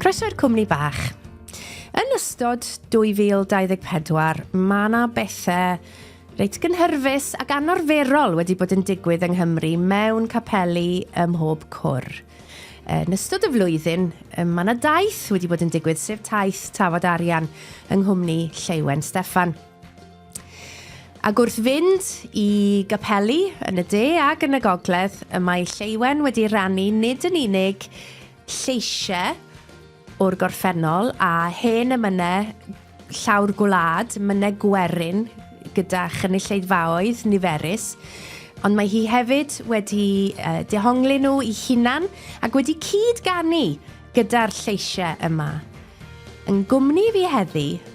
Croeso i'r cwmni bach. Yn ystod 2024, mae yna bethau reit gynhyrfus ac anorferol wedi bod yn digwydd yng Nghymru mewn capeli ym mhob cwr. Yn ystod y flwyddyn, mae yna daith wedi bod yn digwydd, sef taith Tafod Arian yng nghwmni Lleuwen Steffan. Ac wrth fynd i gapeli yn y de ac yn y gogledd, y mae Lleuwen wedi rannu nid yn unig lleisiau o'r gorffennol a hen emynau llaw'r gwlad, mynau gwerin gyda chynulleidfaoedd niferus, ond mae hi hefyd wedi uh, dehongli nhw i hunan ac wedi cyd-ganu gyda'r lleisiau yma. Yn gwmni fi heddi,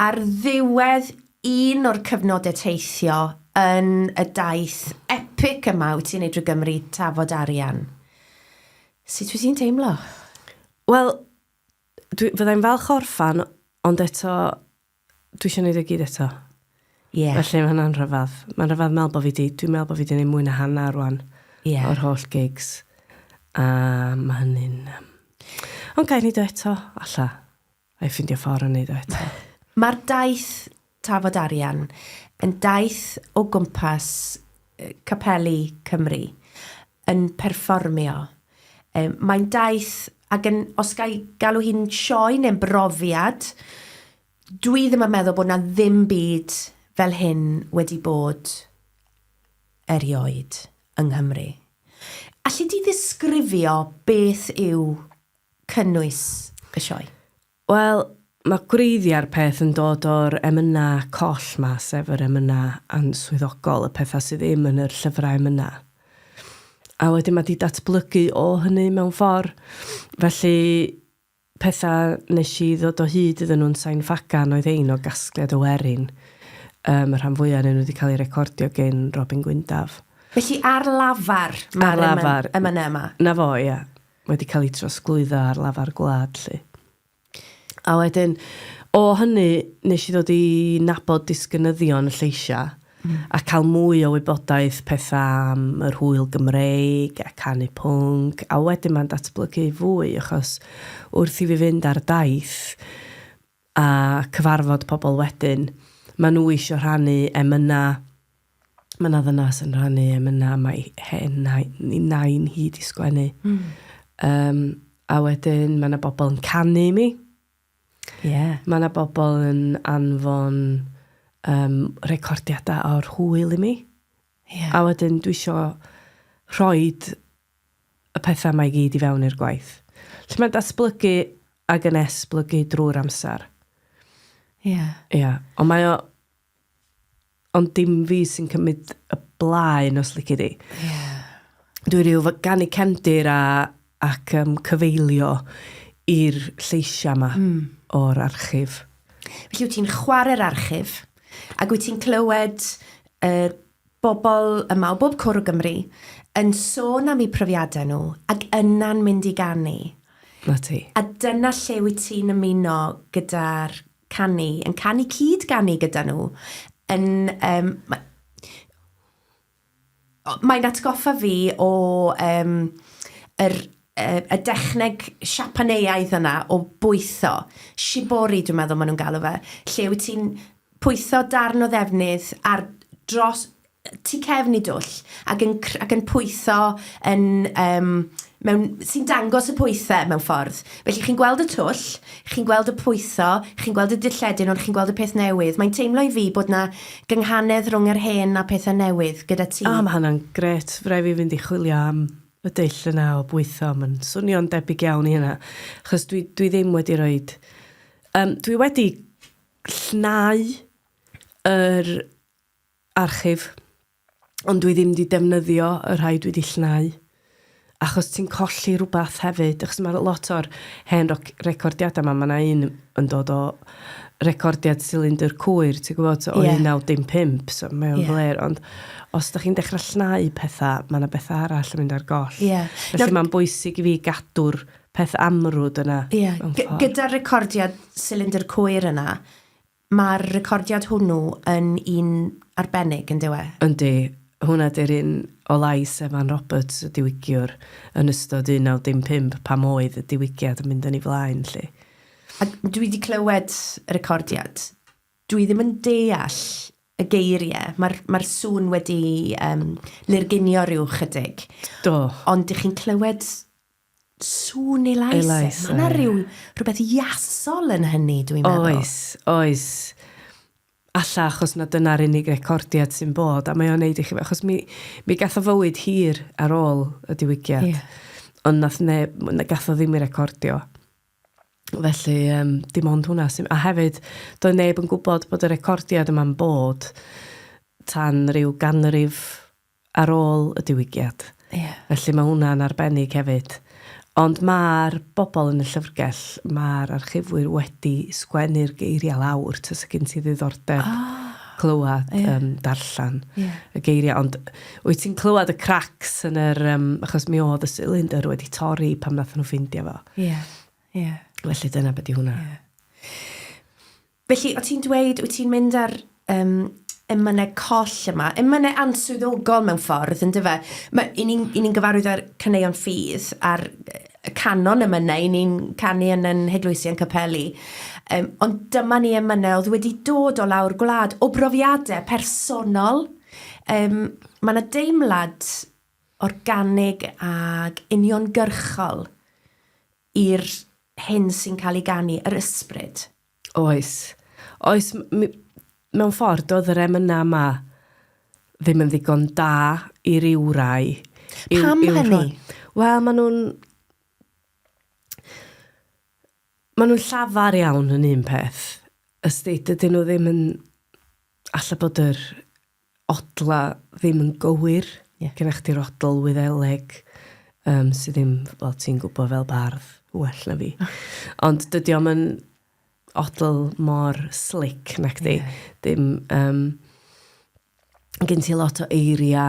Ar ddiwedd un o'r cyfnodau teithio yn y daith epic yma wyt ti'n ei drwy Gymru, Tafod Arian. Sut wyt ti'n teimlo? Wel, dwi, fyddai'n falch orffan, ond eto, dwi eisiau gwneud y e gyd eto. Yeah. Felly mae hwnna'n rhyfedd. Mae'n rhyfedd meddwl bod fi di, dwi'n meddwl bod fi di gwneud mwy na hanner rwan yeah. o'r holl gigs. A mae hynny'n... Um... Ond gael ni do eto, alla. a i ffindio ffordd o wneud o eto. Mae'r daith Tafod Arian yn daith o gwmpas capeli Cymru yn perfformio. Mae'n daith, ac yn, os ga i galw hi'n sioe neu'n brofiad, dwi ddim yn meddwl bod yna ddim byd fel hyn wedi bod erioed yng Nghymru. Alli di ddisgrifio beth yw cynnwys y sioe? Wel, mae gwreiddiau'r peth yn dod o'r emynau coll 'ma, sef yr emynau answyddogol, y pethau sydd ddim yn yr llyfrau emynau. A wedyn mae 'di datblygu o hynny mewn ffordd. Felly, pethau nes i ddod o hyd iddyn nhw'n Sain Ffagan oedd ein o gasgliad o werin. Um, y rhan fwyaf yn nhw wedi cael ei recordio gen Robin Gwyndaf. Felly ar lafar mae'r emynau yma? Na fo, ia. wedi cael ei trosglwyddo ar lafar gwlad 'lly. A wedyn, o hynny, nes i ddod i nabod disgynyddion y lleisiau a cael mwy o wybodaeth pethau am yr hwyl Gymreig a canu pwnc, a wedyn mae'n datblygu fwy achos wrth i fi fynd ar daith, a cyfarfod pobl wedyn, maen nhw eisiau rhannu emynau. Mae yna ddynas yn rhannu emynau, mae hen nain, nain hi di sgwennu. Mm. Um, a wedyn mae yna bobl yn canu i mi. Yeah. Mae yna bobl yn anfon um, recordiadau o'r hwyl i mi. Yeah. A wedyn dwi eisiau rhoi y pethau yma i gyd i fewn i'r gwaith. Felly mae'n datblygu ac yn esblygu drwy'r amser. Ie. Yeah. Ie. Yeah. Ond mae o... Ond dim fi sy'n cymryd y blaen os lici di. Ie. Yeah. Dwi rhyw fod gan i cefndir a, ac um, cyfeilio i'r lleisiau yma mm. o'r archif. Felly wyt ti'n chwarae'r archif ac wyt ti'n clywed y uh, bobl yma o bob cwr o Gymru yn sôn am eu profiadau nhw ac yna'n mynd i ganu. 'Na ti. A dyna lle wyt ti'n ymuno gyda'r canu, yn canu cyd-ganu gyda nhw, yn yym ma- o- mae'n atgoffa fi o yym yr yy y dechneg Siapaneaidd yna o bwytho, shibori dwi'n meddwl maen nhw'n galw fe, lle wyt ti'n pwytho darn o ddefnydd ar dros tu cefn i dwll ac yn cr- ac yn pwytho yn yym mewn... sy'n dangos y pwythe mewn ffordd. Felly chi'n gweld y twll, chi'n gweld y pwytho, chi'n gweld y dilledyn ond chi'n gweld y peth newydd. Mae'n teimlo i fi bod 'na gynghanedd rhwng yr hen a pethe newydd gyda ti. O, mae hwnna'n grêt. Fydda' i fi fynd i chwilio am y dull yna o bwytho. Mae'n swnio'n debyg iawn i hynna. Achos dwi dwi ddim wedi rhoid... Yym dwi wedi llnau yr archif, ond dwi ddim wedi defnyddio y rhai dwi wedi llnau, achos ti'n colli rhywbeth hefyd, achos mae lot o'r hen recordiadau yma, mae yna un yn dod o recordiad Cylinder Cwyr, ti'n gwybod, so, o yeah. 1915, so mae o'n yeah. fler, ond os da chi'n dechrau llnau pethau, mae yna bethau arall yn mynd ar goll. Yeah. Felly no, mae'n bwysig i fi gadw'r peth amrwd yna. Ie, gyda'r recordiad Cylinder Cwyr yna, mae'r recordiad hwnnw yn un arbennig, yn dyw e? Yndi, hwnna di'r un o lais Evan Roberts, y diwygiwr, yn ystod 1955 pam oedd y diwygiad yn mynd yn ei flaen 'lly. A dwi 'di clywed y recordiad, dwi ddim yn deall y geiriau, mae'r mae'r sŵn wedi yym lurgunio ryw 'chydig. Do. Ond dych chi'n clywed Sŵn elais. Elais, ie. Mae yna rhyw, rhywbeth iasol yn hynny, dwi'n meddwl. Oes, oes. Alla achos na dyna'r unig recordiad sy'n bod, a mae o'n neud i chi... Achos mi, mi gath o fywyd hir ar ôl y diwygiad. Ie. Ond nath neb, na gath o ddim i recordio. Felly, um, dim ond hwnna sy'n... A hefyd, doedd neb yn gwybod bod y recordiad yma'n bod tan rhyw ganrif ar ôl y diwygiad. Ie. Felly mae hwnna'n arbennig hefyd. Ond mae'r bobl yn y llyfrgell, mae'r archifwyr wedi sgwennu'r geiriau lawr, ta sy'n gen ti ddiddordeb oh. clywed, yeah. um, darllen yeah. y geiriau. Ond wyt ti'n clywed y cracks yn yr... Um, achos mi oedd y cylinder wedi torri pam nath nhw ffeindio fo. Ie, yeah. ie. Yeah. Felly dyna beth i hwnna. Yeah. Felly, o ti'n dweud, wyt ti'n mynd ar um, ymynau coll yma, ymynau answyddogol mewn ffordd, yn dyfa. I ni'n ni gyfarwydd â'r caneuon ffydd a'r canon ymynau, i ni'n canu yn yn Heglwysian Capelli. Um, ond dyma ni ymynau oedd wedi dod o lawr gwlad, o brofiadau personol. Um, mae yna deimlad organig ag uniongyrchol i'r hyn sy'n cael ei ganu, yr ysbryd. Oes. Oes, mewn ffordd, doedd yr emynau yma ddim yn ddigon da i ryw rai. Yw, Pam yw hynny? Wel, maen nhw'n... Maen nhw'n llafar iawn yn un peth. Ysdi, dydyn nhw ddim yn... Alla bod yr odla ddim yn gywir. Yeah. Gyda chdi'r odl wyddeleg, um, sydd ddim, wel, ti'n gwybod fel bardd, well na fi. Oh. Ond dydy o'm yn odl mor slick na chdi. Yeah. Dim, um, gen ti lot o eiria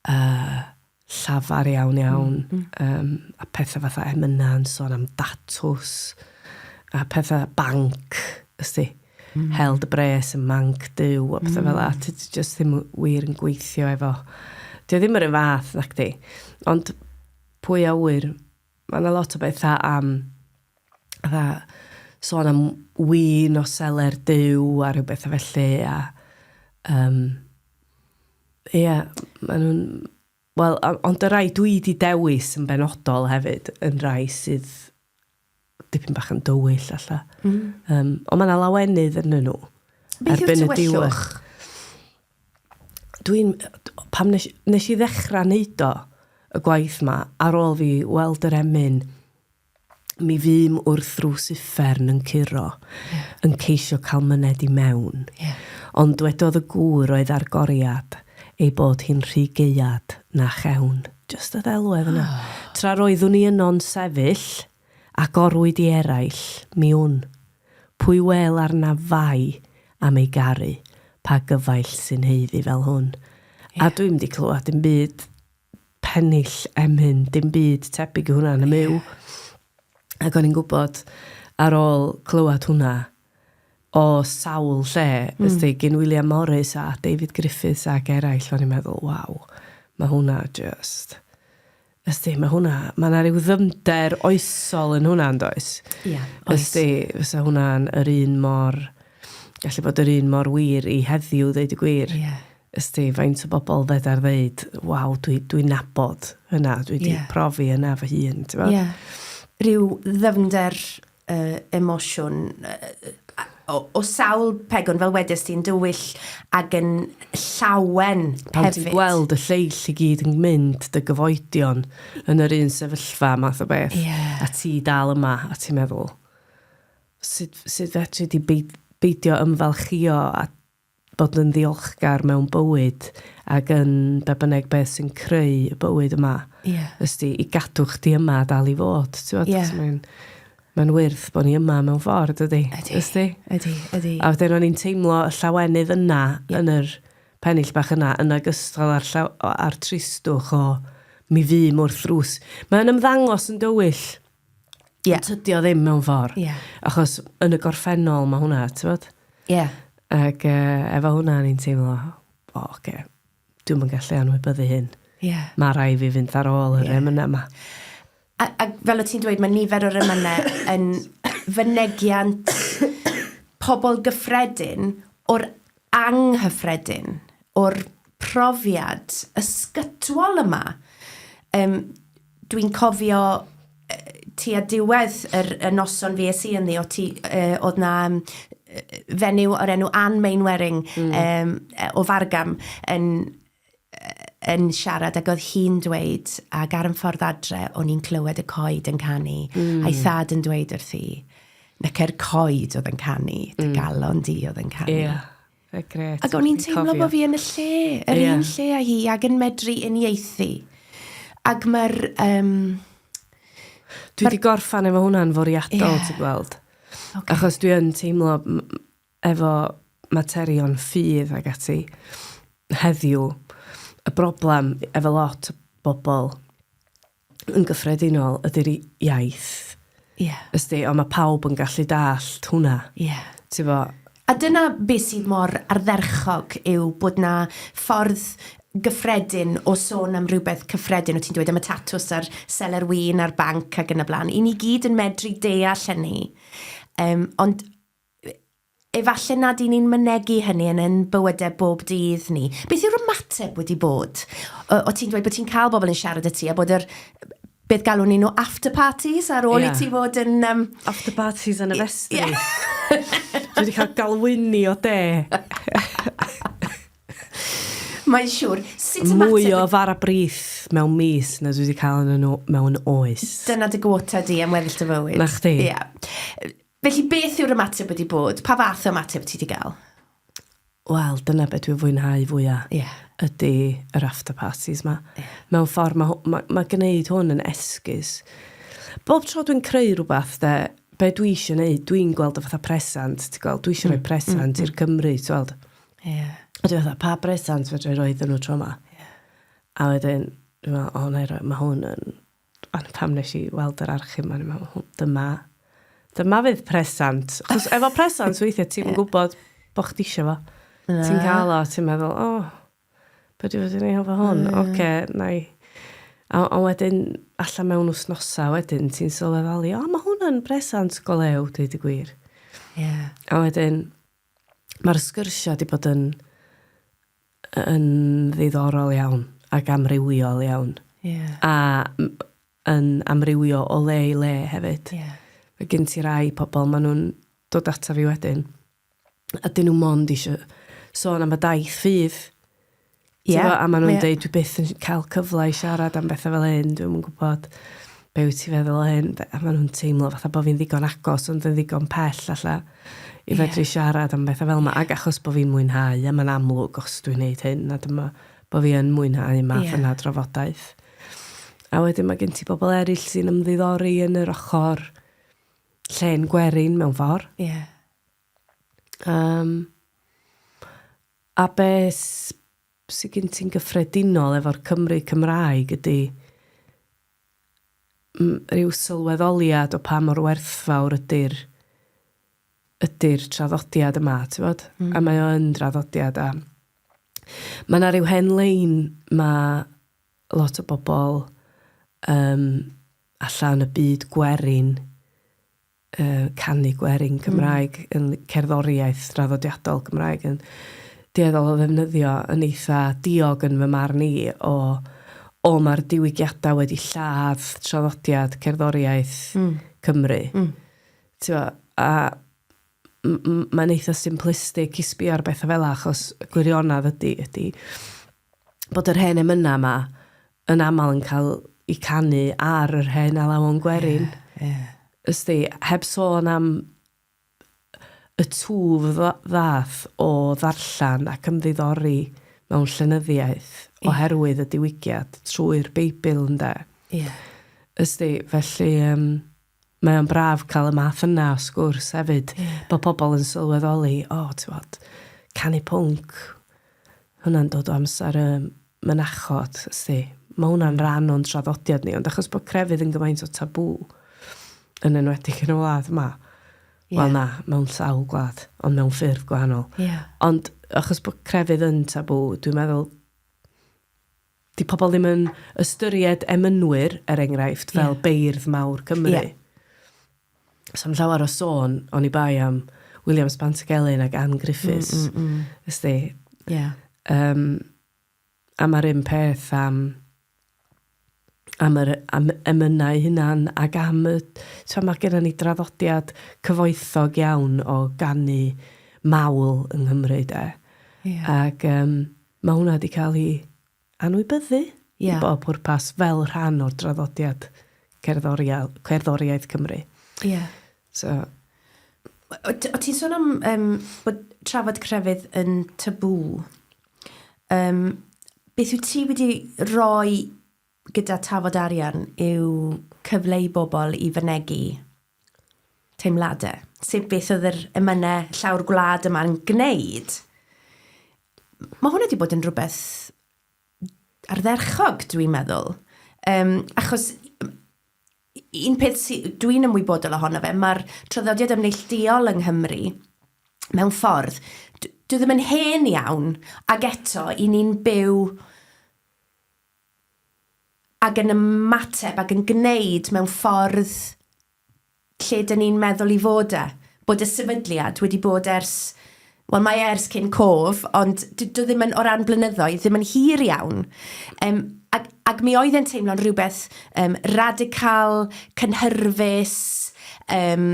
uh, llafar iawn iawn. Mm, mm. Um, a pethau fatha emyna yn son am datws, a pethau banc, ysdi. Mm. Held y bres yn manc dyw, a pethau mm. fel la. Ti just ddim wir yn gweithio efo. Ti ddim yr un fath, nac di. Ond pwy a wir Mae yna lot o bethau am fatha sôn am win o seler Duw a rhyw bethau felly a um, ie, yeah, maen nhw'n... Wel, ond y rai dwi di dewis yn benodol hefyd, yn rai sydd dipyn bach yn dywyll alla. Mm. Um, ond mae yna lawenydd yn nhw. Beth yw'r tywellwch? dwi'n, pam nes, nes i ddechrau wneud o, y gwaith ma, ar ôl fi weld yr emyn, mi fym wrth rws uffern yn curo, yeah. yn ceisio cael myned i mewn. Yeah. Ond dwedodd y gŵr oedd ar goriad ei bod hi'n rhy geuad na chewn. Just y ddelwedd yna. Oh. Tra roeddwn i yno'n sefyll, Agorwyd i eraill, mi wn. Pwy wêl arnaf fai am ei garu, pa gyfaill sy'n haeddu fel hwn? A dwi'm wedi clywed dim byd pennill emyn, dim byd tebyg i hwnna yn y Myw. Ac o'n i'n gwybod, ar ôl clywed hwnna, o sawl lle, ysdi, gyn William Morris a David Griffiths ac eraill, o'n i'n meddwl, waw, mae hwnna jyst... Ysti, mae hwnna, mae yna rhyw ddyfnder oesol yn hwnna, yn does? Ia, oes. Ysti, fysa hwnna'n yr un mor, gallu bod yr un mor wir i heddiw, ddeud y gwir. Ie. Yeah. Ysti, faint o bobl fedar ddeud, waw, dwi, dwi nabod hynna, dwi wedi yeah. profi hynna fy hun, ti'n Ie. Yeah. Rhyw ddyfnder uh, emosiwn uh, o, o sawl pegwn, fel wedys ti'n dywyll ag yn llawen Pan hefyd. ti'n gweld y lleill i gyd yn mynd, dy gyfoedion, yn yr un sefyllfa math o beth, yeah. a ti dal yma, a ti'n meddwl, sut, sut fetri di beidio ymfalchio a bod yn ddiolchgar mewn bywyd ac yn be bynnag beth sy'n creu y bywyd yma. Ie. Ysti, i gadw chdi yma a dal i fod, ti'n fod? Ie. Mae'n mae'n wyrth bod ni yma mewn ffordd, ydy? Ydy. Ysti? Ydy, ydy. A wedyn o'n i'n teimlo y llawenydd yna, yeah. yn yr pennill bach yna, yn agystal a'r, llaw, a'r tristwch o mi fy mwrth rws. Mae'n ymddangos yn dywyll. Ie. Ond tydi o ddim mewn ffordd. Ie. Achos yn y gorffennol mae hwnna, tywod? Ie. Ac uh, efo hwnna ni'n teimlo, o, oh, okay, dwi'n mynd gallu anwybyddu hyn. Ie. Yeah. Mae rai fi fynd ar ôl yr yeah. emynau yma. A, a fel o ti'n dweud, mae nifer o'r emynau yn fynegiant pobl gyffredin o'r anghyffredin o'r profiad ysgytwol yma. Um, Dwi'n cofio ti a diwedd yr, y noson fi es i ynddi, o ti, uh, oedd na um, fenyw o'r enw Anne Mainwaring mm. um, o Fargam yn yn siarad ac oedd hi'n dweud, ac ar yn ffordd adre, o'n i'n clywed y coed yn canu, mm. a'i thad yn dweud wrth hi, na ce'r coed oedd yn canu, dy mm. galon di oedd yn canu. Yeah. E, gret. Ac o'n i'n teimlo bod fi yn y lle, yr yeah. un lle a hi, ac yn medru uniaethu. Ac mae'r... Um, Dwi wedi gorffan efo hwnna'n foriadol, yeah. ti'n gweld. Okay. Achos dwi yn teimlo, efo materion ffydd ac ati heddiw, y broblem efo lot o bobl yn gyffredinol ydy'r iaith. Ie. Ysdi, ond mae pawb yn gallu dallt hwnna. Ie. Ti 'fo? A dyna be sydd mor ardderchog yw bod 'na ffordd gyffredin o sôn am rywbeth cyffredin, o ti'n dweud am y tatws a'r seler win a'r banc ac yn y blaen, i ni gyd yn medru deall hynny. Yym, ond efallai nad y'n ni'n mynegi hynny yn ein bywydau bob dydd ni. Beth yw'r ymateb wedi bod? O, o ti'n dweud bod ti'n cael bobl yn siarad y ti a bod yr beth galwn ni nhw after parties ar ôl yeah. i ti fod yn... Um... After parties yn y festri. Yeah. Dwi wedi cael galwyni o de. Mae'n siŵr. Sut y mater... Mwy o fara brith mewn mis na dwi wedi cael yn nhw mewn oes. Dyna dy gwota di am weddill dy fywyd. Na chdi. Ie. Yeah. Felly beth yw'r ymateb wedi bod? Pa fath o ymateb ti 'di gael? Wel, dyna be dwi'n fwynhau fwya'... Ie. ...ydi yr after parties 'ma. Ie. Mewn ffor ma' hw- ma' ma' gneud hwn yn esgus. Bob tro dwi'n creu rwbath 'de, be dwi isio neud, dwi'n gweld o fatha presant, ti gweld, dwi isio rhoi presant... Mm, mm, mm. ...i'r Cymry, ti weld. Ie. A dwi fatha, pa bresant fedra i roi iddyn nhw tro 'ma? Ie. A wedyn, dwi me'wl, o 'nai roi, ma' hwn yn Ond pam nes i weld yr archif ma'n i'n meddwl, dyma, dyma fydd presant. Chos efo presant, weithiau ti'n yeah. gwybod bod chdi eisiau fo. Yeah. Ti'n cael o, ti'n meddwl, o, oh, beth yw'n fod i'n efo hwn? Yeah. Oce, okay, na i. A, a wedyn, allan mewn wsnosa wedyn, ti'n sylweddoli, o, oh, mae hwn yn presant go lew, dweud y gwir. Yeah. A wedyn, mae'r sgyrsio wedi bod yn yn ddiddorol iawn ac amrywiol iawn. Yeah. A yn amrywio o le i le hefyd. Yeah. Mae gen ti rai pobl, maen nhw'n dod ata fi wedyn, a dyn nhw mond eisiau sôn am y daith ffydd. Yeah. Tewa, a maen nhw'n yeah. dweud, dwi byth yn cael cyfle i siarad am bethau fel hyn, dwi'n yn gwybod. be wyt ti'n feddwl o hyn? A maen nhw'n teimlo fatha bod fi'n ddigon agos ond yn ddigon pell alla i fedru yeah. siarad am bethau fel yma. Yeah. Ac achos bod fi'n mwynhau, a mae'n amlwg os dwi'n neud hyn, a dyma bod fi yn mwynhau yma yeah. yna drafodaeth. A wedyn mae gen ti bobl eraill sy'n ymddiddori yn yr ochr lle'n gwerin mewn ffordd. Ie. Yeah. Um, a beth sydd gen ti'n gyffredinol efo'r Cymry Cymraeg ydy rhyw sylweddoliad o pa mor werthfawr ydy'r ydy'r traddodiad yma, ti'n bod? Mm. A mae o yn draddodiad a mae yna rhyw hen lein mae lot o bobl um, allan y byd gwerin uh, canu gwerin Cymraeg, mm. yn cerddoriaeth draddodiadol Gymraeg, yn dueddol o ddefnyddio yn eitha diog yn fy marn i o, o mae'r diwygiadau wedi lladd traddodiad cerddoriaeth mm. Cymru. Mm. Tewa, a mae'n eitha simplistic i sbio ar bethau fel achos y gwirionedd ydy, ydy bod yr hen emynau yma yn aml yn cael eu canu ar yr hen alawon gwerin. Ie, ie. Ysdi, heb sôn am y twf ddath o ddarllen ac ymddiddori mewn llenyddiaeth oherwydd y diwygiad trwy'r Beibl, ynde? Ie. Ysdi, felly yym... mae o'n braf cael y math yna o sgwrs hefyd. Yeah. Bod pobl yn sylweddoli, o, oh, ti'n bod, canu pwnc, hwnna'n dod o amser y mynachod, ysdi. Mae hwnna'n rhan o'n traddodiad ni, ond achos bod crefydd yn gymaint o tabw yn enwedig yn y wlad yma, yeah. wel na, mewn sawl gwlad, ond mewn ffurf gwahanol. Yeah. Ond achos bod crefydd yn tabw, dwi'n meddwl 'di pobl ddim yn ystyried emynwyr, er enghraifft, fel yeah. beirdd mawr Cymru. Yeah. So'n llawer o sôn, o'n i bai am William Spantagelyn ac Anne Griffiths. Mm, mm, mm. Ysdi? Ie. Yeah. Um, a mae'r un peth am am yr am emynau hunan ac am y... Ti'n mae gennym ni draddodiad cyfoethog iawn o ganu mawl yng Nghymru, de. Yeah. Ac um, Mae hwnna 'di cael ei anwybyddu i bob pwrpas fel rhan o'r draddodiad cerddoriaeth Cymru. Ie. So... O't ti'n sôn am bod trafod crefydd yn tabŵ. Beth wyt ti wedi rhoi gyda tafod arian yw cyfle i bobl i fynegi teimladau. Sef beth oedd yr emynau llawr gwlad yma'n gwneud. Mae hwn wedi bod yn rhywbeth ardderchog, dwi'n meddwl. Um, achos un peth sydd dwi'n ymwybodol ohono fe, mae'r traddodiad ymneillduol yng Nghymru, mewn ffordd, dwi ddim yn hen iawn, ac eto, i ni'n byw ac yn ymateb ac yn gwneud mewn ffordd lle dyn ni'n meddwl i fod e. Bod y sefydliad wedi bod ers, wel mae e ers cyn cof, ond dyw e ddim yn, o ran blynyddoedd, ddim yn hir iawn. Yym, ac, ac mi oedd e'n teimlo'n rhywbeth um, radical, cynhyrfus, um,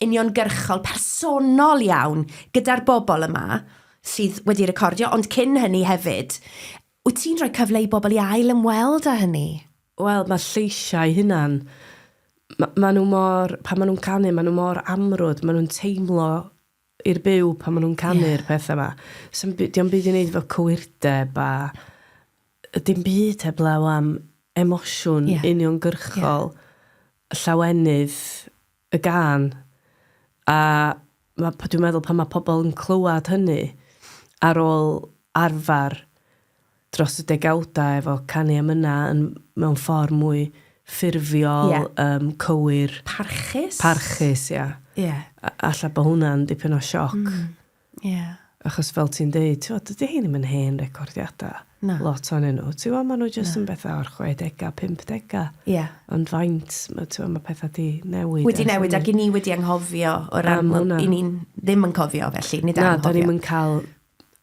uniongyrchol, personol iawn gyda'r bobl yma sydd wedi recordio, ond cyn hynny hefyd, Wyt ti'n rhoi cyfle i bobl i ail ymweld â hynny? Wel, mae'r lleisiau eu hunain, ma- maen nhw mor... pan maen nhw'n canu, maen nhw mor amrwd, maen nhw'n teimlo i'r byw pan maen nhw'n canu'r... Ie. ...pethau 'ma. Sdim by- 'di o'm byd i wneud efo cywirdeb a yy dim byd heblaw am emosiwn... Ie. ...uniongyrchol... Ie. ...y llawenydd y gân, a ma', dwi'n meddwl pan mae pobl yn clywed hynny, ar ôl arfer dros y degawdau efo canu emynau yn, mewn ffordd mwy ffurfiol... Ie. ...yym, cywir... Parchus? ...Parchus, ia. Ie. A- alla bod hwnna'n dipyn o sioc... Mm. Ie. Achos fel ti'n deud, t'wod, dydy rhein ddim yn hen recordiada'... Na. ...lot ohonyn nhw. Ti wbod, ma' nhw jyst... Na. ...yn betha o'r chwedega, pumpdega. Ie. Ond faint, ma', t'wod, ma' petha 'di newid ers hynny. Wedi newid ac 'yn ni wedi anghofio o ran... Am hwnna. ...'yn ni'n ddim yn cofio felly, nid anghofio. Na, 'dan ni'm yn ca'l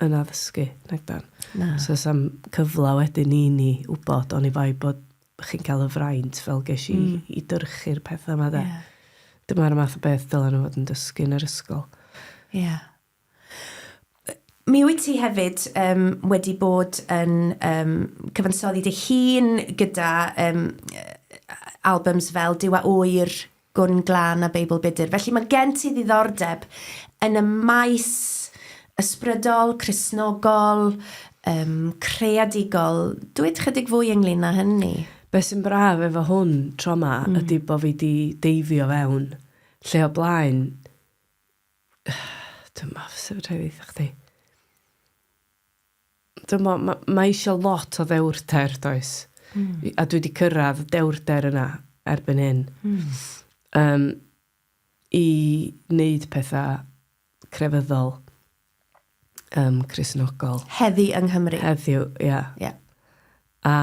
yn addysgu, nago'n? Na. So 'sam cyfla wedyn i ni wbod oni bai bod chi'n cael y fraint fel ges i mm. i dyrchu'r pethau yma da. Yeah. Dyma'r math o beth dylen nhw fod yn dysgu yn yr ysgol. Ie. Yeah. Mi wyt ti hefyd um, wedi bod yn um, cyfansoddi dy hun gyda um, albums fel Dyw a Oer, Gwn Glân a Beibl Budr. Felly mae gen ti ddiddordeb yn y maes ysbrydol, Cristnogol, um, creadigol. Dwyd chydig fwy ynglyn â hynny. Beth sy'n braf efo hwn tro ma mm. ydy bod fi di deifio fewn lle o blaen. Dwi'n meddwl sef rhaid eitha chdi. dymod, ma, mae eisiau lot o ddewrder, does? Mm. A dwi wedi cyrraedd y dewrder yna erbyn hyn. Mm. Um, I wneud pethau crefyddol, um, chrysnogol. Heddi yng Nghymru. Heddiw, ia. Yeah. Yeah. A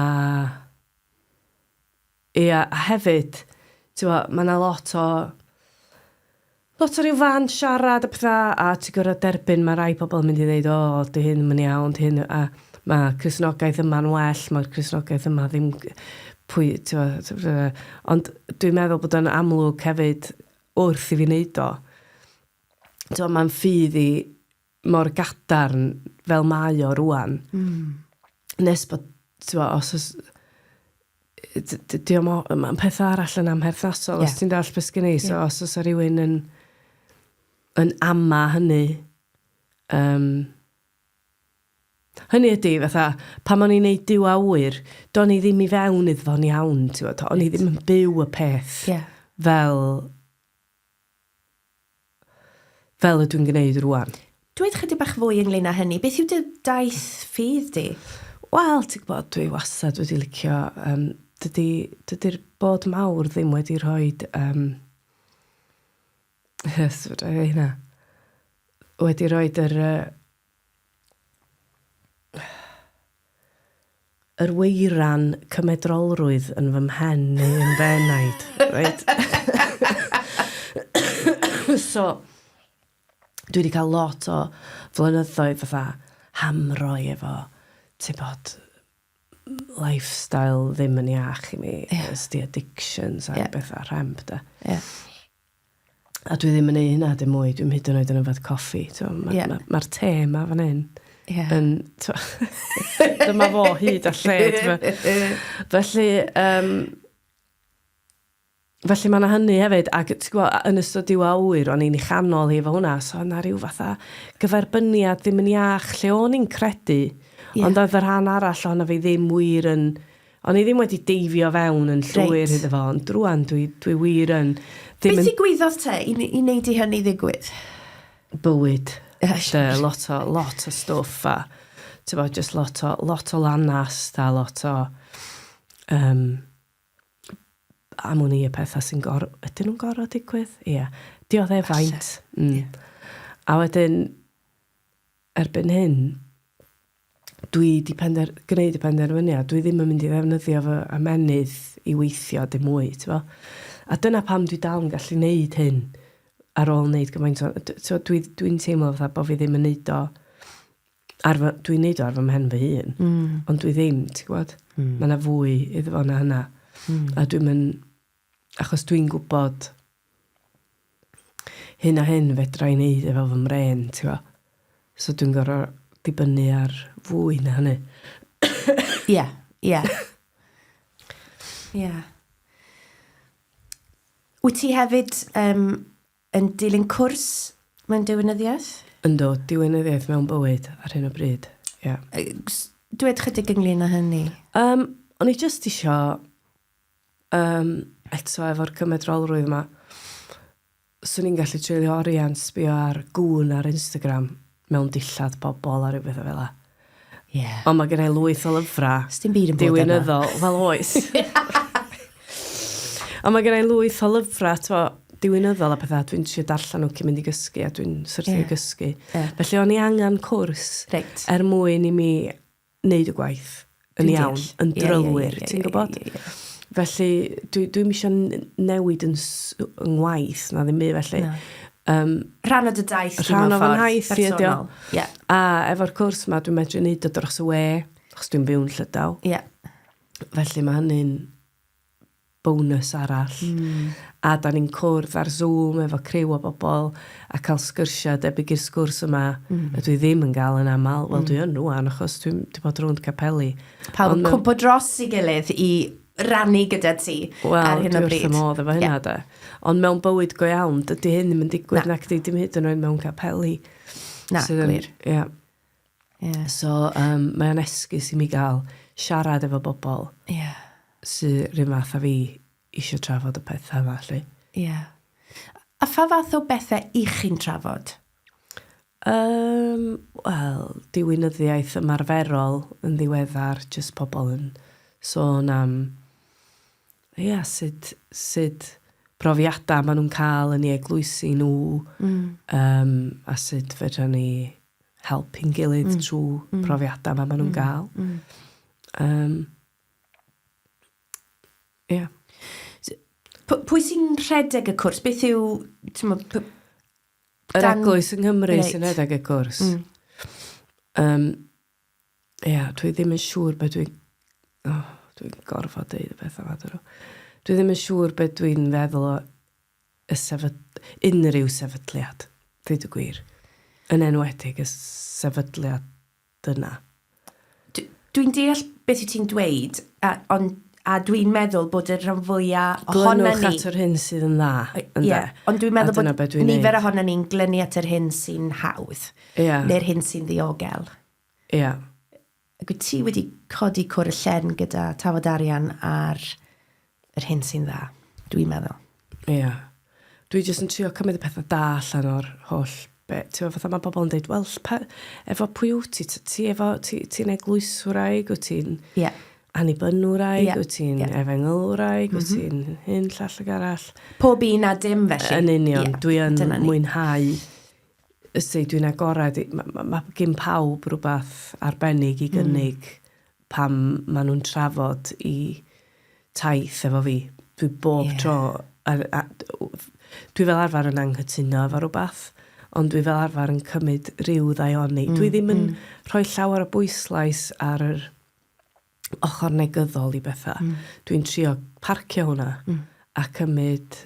Ia, a hefyd, t'mo', ma' 'na lot o lot o ryw fand siarad a petha, a ti gor'o' derbyn ma' rai pobol yn mynd i ddeud o 'di hyn 'im yn iawn 'di hyn yy a ma' Cristnogaeth yma'n well ma'r Cristnogaeth yma ddim g- pwy t'mo' t- fy- yy ond dwi'n meddwl bod o'n amlwg hefyd wrth i fi neud o t'mo' ma'n ffydd i mor gadarn fel mae o rwan. Mm. Nes bod, ti'n bo, os oes... Mae'n peth arall yn amherthnasol, yeah. os ti'n dall beth gen i. So, yeah. os oes rhywun yn, yn ama hynny, um, Hynny ydy, fatha, pan o'n i'n neud diw awyr, do'n i ddim i fewn iddo fo'n iawn, ti'n bod, o'n i ddim yn byw y peth yeah. fel fel ydw i'n gwneud rwan. Dweud chydig bach fwy ynglyn â hynny, beth yw dy daith ffydd di? Wel, ti'n gwybod, dwi wastad wedi licio, um, dydy, dydy'r bod mawr ddim wedi rhoi, um, yes, wedi rhoi yr, uh, Yr weiran cymedrolrwydd yn fy mhen neu yn fy enaid. Reit. so, dwi wedi cael lot o flynyddoedd fatha hamro i efo, ti bod, lifestyle ddim yn iach i mi. Ie. Ysdi addictions a... Ie. ...bethau rhemp de. Ie. A dwi ddim yn ei hynna dim mwy. Dwi'm hyd yn oed yn yfad coffi. Mae'r yeah. ma, ma te yma fan hyn. Yeah. Yn, dyma fo hyd a lled. Felly, um, felly mae yna hynny hefyd, ac gwa, yn ystod diw awyr, o'n i'n ei chanol hi fo hwnna, so yna rhyw fatha gyferbyniad ddim yn iach lle o'n i'n credu, yeah. ond oedd y rhan arall o'n fi ddim wir yn O'n i ddim wedi deifio fewn yn llwyr Reit. iddo fo, ond rwan dwi, dwi wir yn. Be ddigwyddodd te i, i wneud i hynny ddigwydd? Bywyd. Dy, lot o, lot o stwff a, ti'n bod, just lot o, lot o lanast a lot o, um, am wn i y pethau sy'n gor... Ydyn nhw'n gorau digwydd? Ie. Yeah. Dioddefaint. Mm. Yeah. A wedyn, Erbyn hyn, dwi 'di pender- gwneud y penderfyniad, dwi ddim yn mynd i ddefnyddio fy ymennydd i weithio dim mwy, t'bo'? A dyna pam dwi dal yn gallu neud hyn ar ôl neud gymaint o... d- t'mo' dwi dwi'n teimlo fatha bo' fi ddim yn neud o ar fy... Dwi'n neud o ar fy mhen fy hun. Hmm. Ond dwi ddim, ti gwbod? Hmm. Ma' 'na fwy iddo fo na hynna. Hmm. A dwi'm yn achos dwi'n gwbod hyn a hyn, fedra i wneud e fel fy mrên, ti'n gwybod. So dwi'n gorfod dibynnu ar fwy na hynny. Ie, ie. Ie. Wyt ti hefyd um, yn dilyn cwrs mewn diwinyddiaeth? Ynddo, diwinyddiaeth mewn bywyd ar hyn o bryd, ie. Yeah. Dwed chydig ynglyn â hynny. Um, o'n i jyst isio um, eto efo'r cymedrolrwydd yma, swn i'n gallu treulio oriau'n sbio ar gŵn ar Instagram mewn dillad bobl a rhywbeth o fel la. Yeah. Ond mae gen i lwyth o lyfrau. Sdim byd yn bod yna. Diwynyddol, fel oes. Ond mae gen i lwyth o lyfrau, to, diwynyddol a pethau, dwi'n siarad darllen nhw cyn mynd i gysgu a dwi'n syrthio yeah. i gysgu. Yeah. Felly o'n i angen cwrs right. er mwyn i mi wneud y gwaith yn iawn, yn drylwyr, ti'n gwybod? Felly, dwi, dwi misio newid yn ngwaith, na ddim byd felly. No. Um, rhan o dy daith chi mewn ffordd haith, personol. Yeah. A efo'r cwrs yma, dwi'n medru wneud o dros y we, achos dwi'n byw'n llydaw. Yeah. Felly mae hynny'n bonws arall. A dan ni'n cwrdd ar Zoom efo criw o bobl a cael sgyrsiau debyg i'r sgwrs yma ydw i ddim yn gael yn aml. Wel, dwi yn rŵan achos dwi 'di bod rownd capeli. Pawb yn cwmpo dros ei gilydd i rannu gyda ti ar hyn o bryd. Wel, dwi wrth fy modd efo hynna 'de. Ond mewn bywyd go iawn, dydy hyn ddim yn digwydd nacdi? Dim hyd yn oed mewn capeli. Na, gwir. Ia. Ie. So yym mae o'n esgus i mi ga'l siarad efo bobol... Ie. ...sy 'r un fath â fi isio trafod y petha 'ma 'lly. Ie. A pha fath o bethe 'ych chi'n trafod? Yym wel diwinyddiaeth ymarferol yn ddiweddar jyst pobol yn sôn am ia sud sud profiada ma' nw'n ca'l yn 'u eglwysi n'w... Hmm. ...yym a sud fedran ni helpu'n gilydd trwy profiadau ma' ma' nhw'n ga'l. Yym. Ia. S- p- pwy sy'n rhedeg y cwrs? Beth yw t'mo' p- Yr Dan- eglwys yng Nghymru Reit. sy'n rhedeg y cwrs. Yym. Ia dwi ddim yn siŵr be' dwi o dwi'n gorfod deud y petha 'ma dwedwn. Dwi ddim yn siŵr be' dwi'n feddwl o y sefyd-, unrhyw sefydliad, dweud y gwir. Yn enwedig y sefydliad yna. D- dwi'n deall beth wyt ti'n dweud, a, on, a dwi'n meddwl bod y rhan fwya ohona ni... Glynwch at yr hyn sydd yn dda, ynde? Yeah, ond dwi'n meddwl bod be dwi nifer ohona ni'n glynu at yr hyn sy'n hawdd, yeah. neu'r hyn sy'n ddiogel. Yeah. Ac wyt ti wedi codi cwr y lle'n gyda tafod arian ar yr hyn sy'n dda, dwi'n meddwl. Ia. Dwi jyst yn trio cymryd y pethau da allan o'r holl be- t'mo' fatha ma' pobol yn deud wel ll- pa- efo pwy wt ti t- ti efo ti ti'n eglwyswraig wyt ti'n... Ia. ...annibynwraig... Ia. ...wyt ti'n... Ia. ...efengylwraig... M-hm. ...wyt ti'n hyn llall ag arall. Pob un a dim felly. Yn union. Ia. Dwi yn... Dyna ni. ...mwynhau Os ydw i'n agored, mae gen pawb rhywbeth arbennig i gynnig pan maen nhw'n trafod eu taith efo fi. Dwi bob tro... Dwi fel arfer yn anghytuno efo rhywbeth, ond dwi fel arfer yn cymryd rhyw ddaioni. Dwi ddim yn rhoi llawer o bwyslais ar yr ochr negyddol i bethau. Mm. Dwi'n trio parcio hwnna mm. a cymryd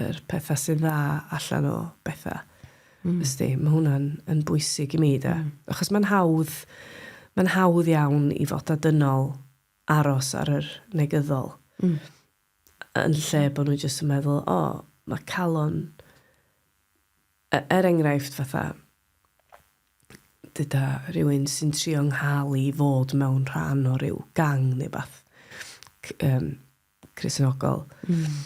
yr pethau sy'n dda allan o bethau. Mm. Ysdi, mae hwnna'n yn bwysig i mi, da. Mm. Achos mae'n hawdd, mae'n hawdd iawn i fod â dynol aros ar yr negyddol. Mm. Yn lle bod nhw jyst yn meddwl, o, oh, mae calon E- er enghraifft, fatha, deuda rhywun sy'n trio 'ngha'l i i fod mewn rhan o ryw gang neu wbath, c- yym, Cristionogol. Hmm.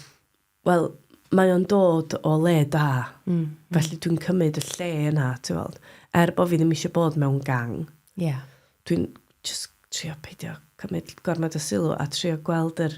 Wel, mae o'n dod o le da. Hmm, hmm. Felly dwi'n cymryd y lle yna, ti weld. Er bo' fi ddim isio bod mewn gang... Ie. ...dwi'n jyst trio peidio cymryd gormod o sylw a trio gweld yr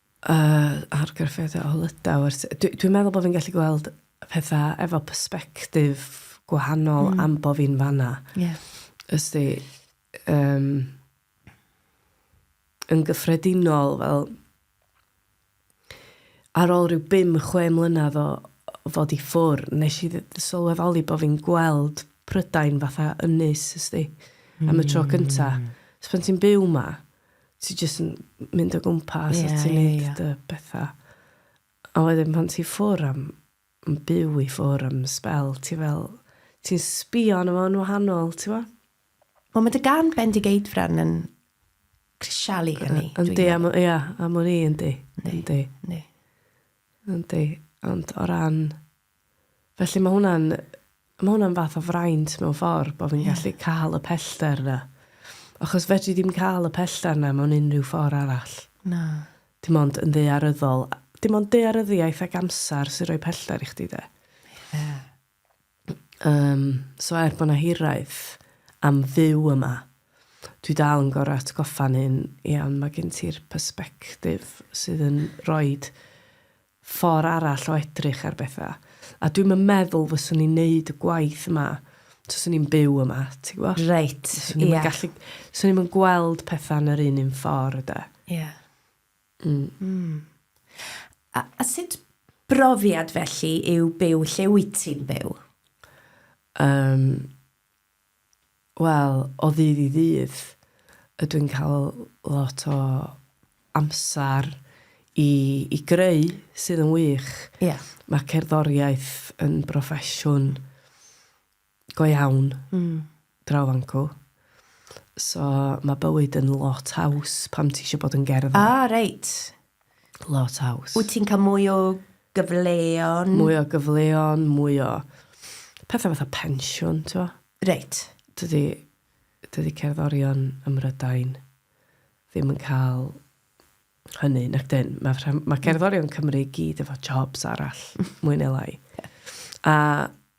Yy, argraffiadau o Lydaw ers... Dwi, dwi'n meddwl bod fi'n gallu gweld pethau efo perspectif gwahanol mm. am bod fi'n fanna. Ie. Yeah. Ysdi, um, yn gyffredinol, fel, ar ôl rhyw bum chwe mlynedd o fod i ffwr, nes i sylweddoli bod fi'n gweld Prydain fatha ynys, ysdi, mm. am y tro cynta. Mm. So pan ti'n byw ma, ti jyst yn mynd o gwmpas yeah, a ti'n yeah, neud yeah. dy bethau. A wedyn pan ti ffwr am, yn byw i ffwr am spel, ti fel, ti'n sbio arno fo'n wahanol, ti fo? Wel, mae dy gan Bendigeidfran yn crisialu hynny. Yndi, am, ia, am o'n i, yndi. Yndi. Yndi. Yndi. Ond o ran Felly mae hwnna'n, mae hwnna'n fath o fraint mewn ffordd, bod fi'n yeah. gallu cael y pellter yna. Achos fedri ddim cael y pellter yna mewn unrhyw ffordd arall. Na. Dim ond yn ddearyddol. Dim ond dearyddiaeth ac amser sy'n rhoi pellter i chdi de. Ie. Yeah. Um, so er bod yna hiraeth am fyw yma, dwi dal yn gorau atgoffa'n hyn, iawn, mae gen ti'r perspektif sydd yn rhoi ffor' arall o edrych ar betha', a dwi'm yn meddwl fyswn i'n neud y gwaith yma taswn i'n byw yma, ti gwbo? Reit, ia. Swn i'm yn gallu... Swn i'm yn gweld petha' yn yr un un ffor', de. Ia. Mm. Mm. A, a sut brofiad felly yw byw lle wyt ti'n byw? Yym, wel, o ddydd i ddydd, ydw i'n cael lot o amser i, i greu, sydd yn wych. Ie. Mae cerddoriaeth yn broffesiwn go iawn mm. draw fan cw. So mae bywyd yn lot haws pam ti eisiau bod yn gerddor. Ah, reit. lot haws. Wyt ti'n cael mwy o gyfleon? Mwy o gyfleon, mwy o pethau fatha pensiwn, ti'n fawr? Reit. Dydy, dydy cerddorion ym Mrydain ddim yn cael hynny, nac dyn. Mae, mae cerddorion Cymru gyd efo jobs arall, mwy neu lai. A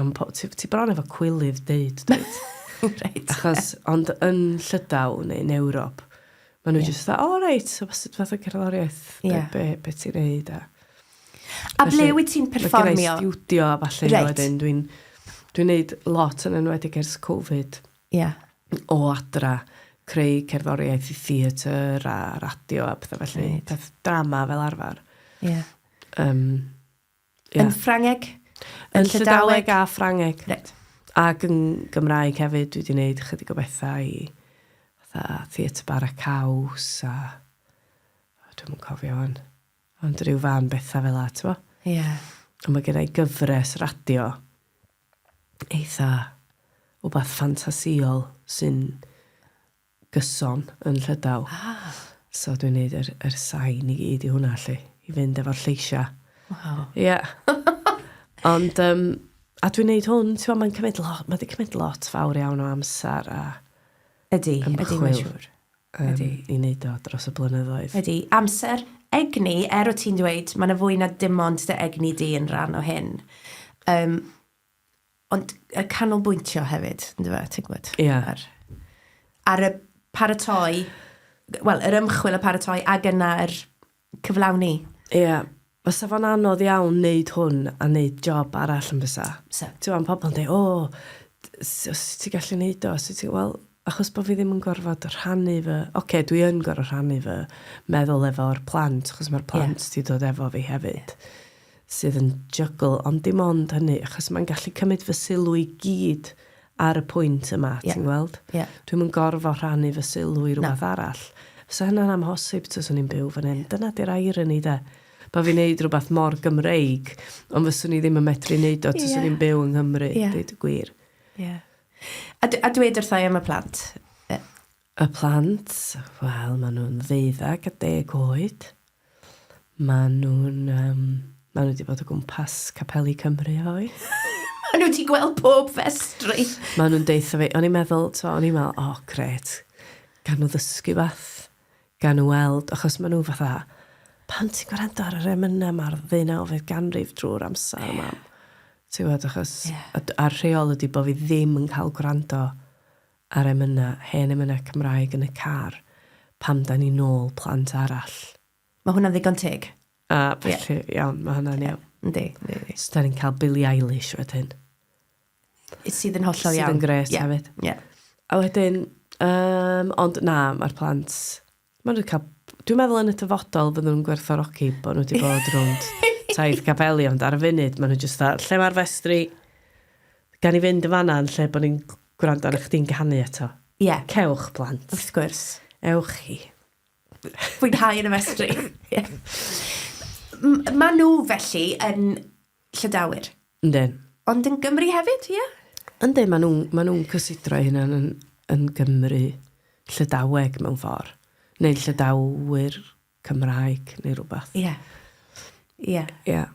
Yn po- ti ti bron efo cwilydd deud dwyt? Reit. Achos ond yn Llydaw neu yn Ewrop ma' nw jyst fatha o reit so be' sy fath o cerddoriaeth be' be' be' ti'n neud a... A ble wyt ti'n perfformio? Mae gennai stiwdio a ballu a wedyn dwi'n dwi'n neud lot yn enwedig ers Covid. Ia. O adra creu cerddoriaeth i theatr a radio a petha felly. Peth drama fel arfar. Ia. Yym. Ie. Yn Ffrangeg? Yn Yn Llydaweg? Llydaweg a Ffrangeg. Reit. Ac yn Gymraeg hefyd, dwi 'di neud chydig o betha i fatha Theatr Bara Caws a o dwi'm yn cofio wan. Ond ryw fân betha fel 'a t'mo'? Ie. A ma' gennai gyfres radio eitha wbath ffantasïol sy'n gyson yn Llydaw. Ah! So dwi'n neud yr yr sain i gyd i hwnna 'lly, i fynd efo'r lleisia'. Waw. Ia. Ond yym a dwi'n neud hwn t'mo' ma'n cymyd lo- ma' 'di cymyd lot fawr iawn o amsar a... Ydi, ydi mae'n siŵr. ...ymchwil. Ydi. Yym i neud o dros y blynyddoedd. Ydi. Amser, egni, er o' ti'n dweud ma' 'na fwy na dim ond dy egni di yn ran o hyn. Yym. Ond y canolbwyntio hefyd, yn dyfa, ti'n gwybod? Ie. Yeah. Ar, ar y paratoi, wel, yr ymchwil y paratoi ac yna yr cyflawni. Ie. Yeah. Fysa fo'n anodd iawn wneud hwn a wneud job arall yn fysa. Fysa. Ti'n gwybod, pobl yn dweud, o, oh, ti'n gallu wneud o? Ti'n Wel, achos bod fi ddim yn gorfod rhannu fy... Oce, okay, dwi yn gorfod rhannu fy meddwl efo'r plant, achos mae'r plant yeah. ti dod efo fi hefyd. Yeah. sydd yn juggle, ond dim ond hynny, achos mae'n gallu cymryd fy sylw i gyd ar y pwynt yma, yeah. ti'n gweld? Yeah. Dwi'm yn gorfod rhannu fy sylw i rhywbeth no. arall. Fysa hynna'n amhosib tos o'n i'n byw fan hyn. Dyna di'r irony, de. Ba fi'n neud rhywbeth mor Gymreig, ond fyswn i ddim yn medru neud o tos yeah. o'n i'n byw yng Nghymru, yeah. dweud y gwir. Yeah. A, a dweud wrthau am y plant, Y plant, wel, maen nhw'n ddeuddeg a deg oed. Maen nhw'n, um, maen nhw wedi bod o gwmpas Capeli Cymru hoi. maen nhw wedi gweld pob festri. maen nhw'n deitha fi, o'n i'n meddwl, to, o'n i'n meddwl, o, oh, gret, gan nhw ddysgu fath, gan nhw weld, achos maen nhw fatha, pan ti'n gwrando ar yr emynau mae'r ddeunawfed ganrif drwy'r amser yeah. yma. Ti'n gwybod, achos, yeah. a'r rheol ydy bod fi ddim yn cael gwrando a'r emynau, hen emynau Cymraeg yn y car pan dan ni'n nôl plant arall. Mae hwnna'n ddigon teg. A felly, yeah. iawn, mae hwnna'n iawn. Yndi, yndi, yndi. So da ni'n cael Billie Eilish wedyn. Sydd yn hollol iawn. Sydd yn gret yeah. hefyd. Yeah. A wedyn, um, ond na, mae'r plant Maen nhw wedi cael... Dwi'n meddwl yn y dyfodol fydden nhw'n gwerthfawrogi bod nhw wedi bod rownd taith Capeli, ond ar y funud maen nhw jyst dda, lle mae'r festri gan i fynd yn fanna yn lle bod ni'n gwrando ar chdi'n canu eto. Ie. Yeah. Cewch, plant. Wrth gwrs. Ewch chi. Fwynhau yn y festri. Ie. yeah. Maen nhw felly yn Llydawyr. Yndyn. Ond yn Gymru hefyd, ie? Yndyn, maen nhw'n ma nhw cysidro'u hunain yn, yn Gymru Llydaweg mewn ffordd. Neu Llydawyr Cymraeg, neu rhywbeth. Ie. Yeah. Ie. Yeah. Ie. Yeah.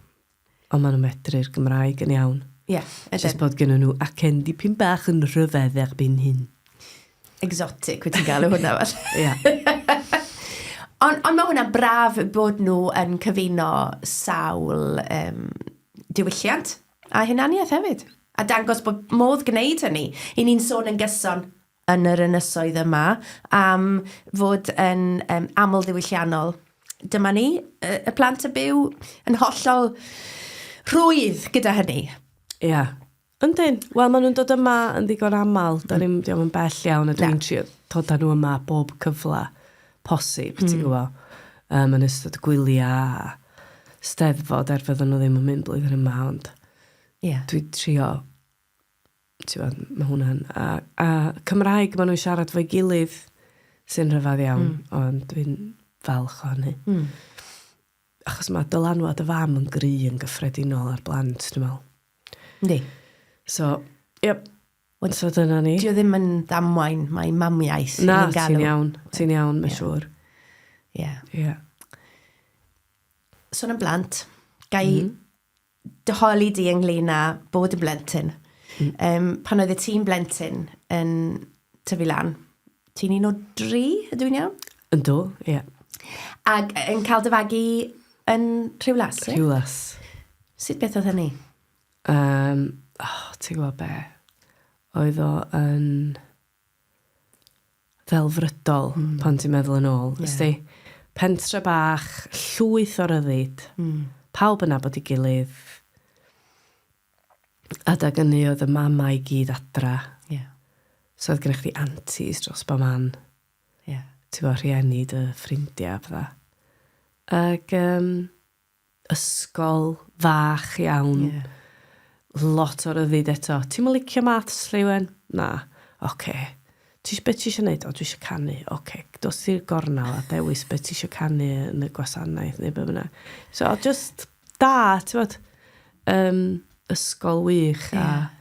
Ond maen nhw'n medru'r Gymraeg yn iawn. Ie, yeah, ydyn. Just bod gen nhw acen dipyn bach yn rhyfedd erbyn hyn. Exotic, wyt ti'n galw hwnna fel? Ie. Ond on mae hwnna'n braf bod nhw yn cyfuno sawl um, diwylliant a hunaniaeth hefyd. A dangos bod modd gwneud hynny. I ni'n sôn yn gyson yn yr ynysoedd yma am fod yn um, aml ddiwylliannol. Dyma ni, y plant y byw, yn hollol rhwydd gyda hynny. Ie. Yeah. Yndyn. Wel, maen nhw'n dod yma yn ddigon aml. Da ni'n mynd iom yn bell iawn, a dwi'n trio dod â nhw yma bob cyfle posib, ti'n mm. gwybod, um, yn ystod gwyliau, steddfod, er fydden nhw ddim yn mynd blwyddyn yma, ond yeah. dwi'n trio, ti'n gwybod, mae hwnna'n... A, a Cymraeg maen nhw'n siarad fo'i gilydd sy'n rhyfedd iawn, mm. ond dwi'n falch o hynny. Mm. achos mae dylanwad y fam yn gry yn gyffredinol ar blant, dwi'n meddwl. Yndi. So, ie, yep. so dyna ni. Dio ddim yn ddamwain, mae mamiaeth. Na, ti'n iawn, ti'n iawn, mae'n siŵr. Ie. Ie. Sôn am blant, gai mm. dy holi di ynglyn â bod yn blentyn. Mm. Um, pan oedd y tîm blentyn yn tyfu lan, ti'n un o dri, ydw i'n iawn? Yn do, ie. Yeah. Ac yn cael dy fagu yn Rhiwlas? Rhiwlas. Sut beth oedd hynny? Um, oh, ti'n gwybod be? Oedd o yn... ddelfrydol pan ti'n meddwl yn ôl. Ie. Ysti? Pentre bach, llwyth o ryddid. Mm. Pawb yn nabod 'i gilydd. Adag ynny oedd y mamau i gyd adra. Ie. So oedd gennych chdi aunties dros bo' man. Ie. T'bo' rhieni dy ffrindia a petha. Ag yym ysgol fach iawn. Ie. Lot o ryddid eto. Ti'm yn licio maths, Lleuwen? Na. Ocê. Ti- be' ti isio neud? O dwi isio canu. Ocê, dos i'r gornel a dewis be' ti isio canu yn y gwasanaeth neu be' bynnag. So o' jyst da, t'mod? Yym, ysgol wych a... Ie.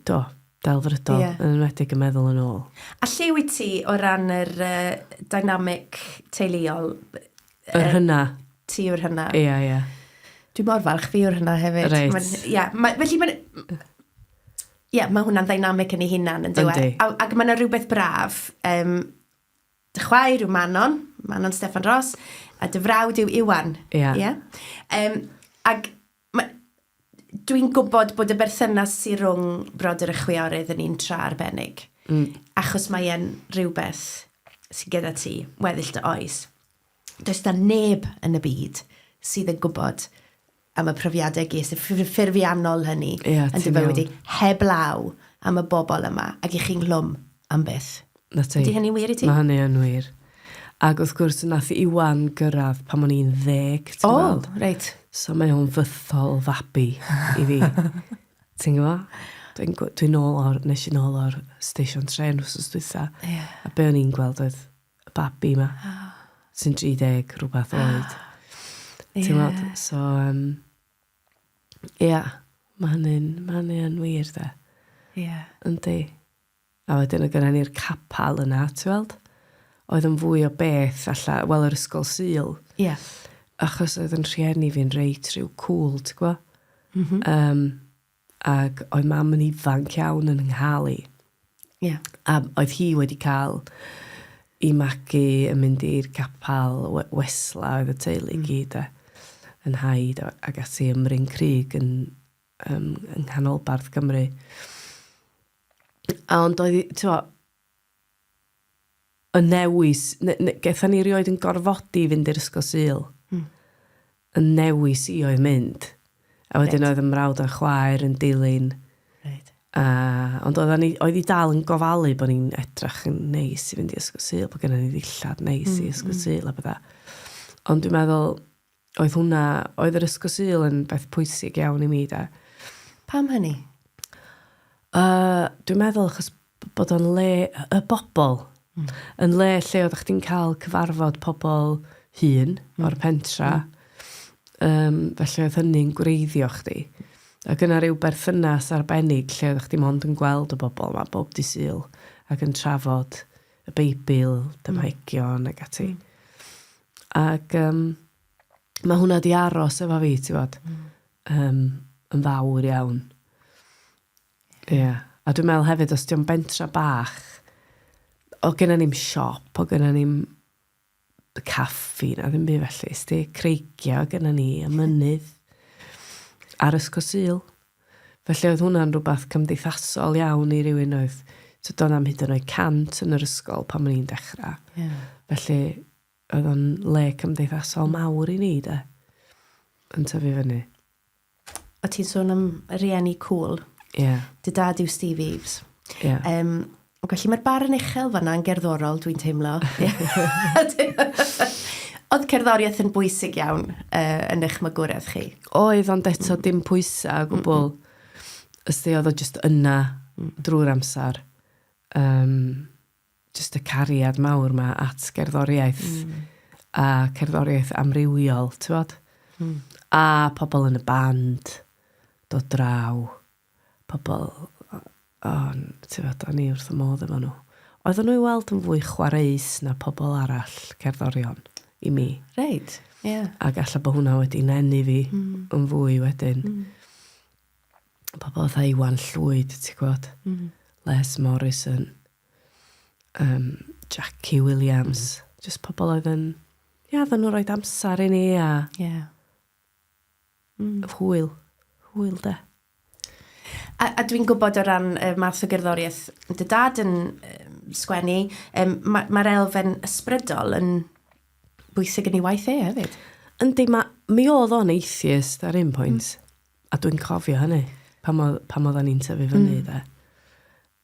do, delfrydol, yeah. yn enwedig yn meddwl yn ôl. A lle wyt ti o ran yr uh, dynamic teuluol? Yr hynna. Ti yw'r hynna. Ie, yeah, ie. Yeah. Dwi'n mor falch fi yw'r hynna hefyd. Reit. Ie, yeah, ma, felly mae'n... Ie, yeah, mae hwnna'n ddynamic yn ei hunan yn dweud. E? Ac mae yna rhywbeth braf. Um, dy chwaer yw Manon, Manon Stefan Ross, a dy frawd yw Iwan. Ie. Yeah. Yeah? Um, ac Mae... Dwi'n gwybod bod y berthynas sy rhwng brodyr a chwiorydd yn un tra arbennig. Mm. Achos mae e'n rhywbeth sy'n gyda ti, weddill dy oes. Does da neb yn y byd sydd yn gwybod am y profiadau ges i, ffurfiannol hynny, yeah, yn dy fywyd di, heblaw am y bobl yma, ac i chi nghlwm. am byth. 'Na ti. Ydy hynny'n wir i ti? Ma' hynny yn wir. Ag wrth gwrs nath Iwan gyrradd pan o'n i'n ddeg, ti'n gweld? O, reit. So mae o'n fythol fabi i fi. Ti'n gwbo? Dwi'n gw- dwi'n nôl o'r... Nes i nôl o'r station trên wsos dwytha. Ie. A be' o'n i'n gweld oedd y babi 'ma. O. Sy'n 30 rwbath oed. Ie. Ti'n weld? So yym ia, ma' hynny'n ma' hynny yn wir 'de? Ie. Yndi. a wedyn oedd gynna ni'r capal yna, ti weld? Oedd yn fwy o beth alla, wel yr ysgol Sul. Ie. Achos oedd yn rhieni fi'n reit rhyw cŵl, ti gwa? Mm -hmm. um, ac oedd mam yn ifanc iawn yn nghael i. Ie. Yeah. A oedd hi wedi cael i magu yn mynd i'r capal wesla oedd y teulu mm. gyd e, yn haid ac ati ymryn crig yn um, yng nghanolbarth Gymru. A ond oedd, ti'n y newis, getha ni rioed yn gorfodi fynd i'r ysgol syl. Mm. Y newis i oedd mynd. A wedyn right. oedd y mrawd a'n chwaer yn dilyn. Right. A, ond oedd, ni, oedd i dal yn gofalu bod ni'n edrach yn neis i fynd i ysgol syl, bod gennym ni ddillad neis mm, i ysgol mm. syl a bydda. Ond dwi'n meddwl, Oedd hwnna, oedd yr ysgol Sul yn beth pwysig iawn i mi, de. Pam hynny? Uh, dwi'n meddwl achos bod o'n le y bobl. Mm. Yn le lle oedd chdi'n cael cyfarfod pobl hun mm. o'r pentra. Mm. Um, felly oedd hynny'n gwreiddio chdi. Ac yna rhyw berthynas arbennig lle oedd chdi mond yn gweld y bobl yma bob di syl ac yn trafod y Beibl, dymaegion mm. ac ati. Mm. Ac um, mae hwnna di aros efo fi, ti fod, mm. um, yn fawr iawn. Ie. Yeah. A dwi'n meddwl hefyd, os diolch bentra bach, o gyda ni'n siop, o gyda ni'n caffi, na ddim byd felly, sti, creigiau gyda ni, y mynydd, ar ysgol syl. Felly oedd hwnna'n rhywbeth cymdeithasol iawn i rywun oedd, so doedd na'm hyd yn oed cant yn yr ysgol pan o'n i'n dechrau. Yeah. Felly oedd o'n le cymdeithasol mawr i ni de, yn tyfu fyny. O ti'n sôn am rieni cwl. Yeah. Dy dad yw Steve Eves. Yeah. Um, O, felly mae'r barn uchel fanna yn gerddorol, dwi'n teimlo. Oedd cerddoriaeth yn bwysig iawn uh, yn eich magwraeth chi? Oedd, ond eto dim pwysau o gwbl. Mm -mm. Ysdi, oedd o just yna mm. drwy'r amser. Um, just y cariad mawr yma at gerddoriaeth. Mm. A cerddoriaeth amrywiol, ti'n bod? Mm. A pobl yn y band, dod draw. pobl o n- ti'mod o'n i wrth fy modd efo nhw. Oedden nhw i weld yn fwy chwareus na pobl arall, cerddorion, i mi. Reit, ie. A galla bod hwnna wedi nenu fi yn fwy wedyn. Pobl fatha Iwan Llwyd, ti'n gwybod, Les Morrison, um, Jackie Williams, jyst pobl oedd yn... Ie, oedden nhw'n rhoi amser i ni a... Ie. Mm. Hwyl. Hwyl, de. A, a dwi'n gwybod o ran y math o gerddoriaeth dy dad yn um, sgwennu, um, mae'r ma, ma elfen ysbrydol yn bwysig yn ei waith e hefyd. Yndi, ma, mi oedd o'n atheist ar un pwynt, mm. a dwi'n cofio hynny, pam oedd o'n i'n tyfu fyny, mm. de.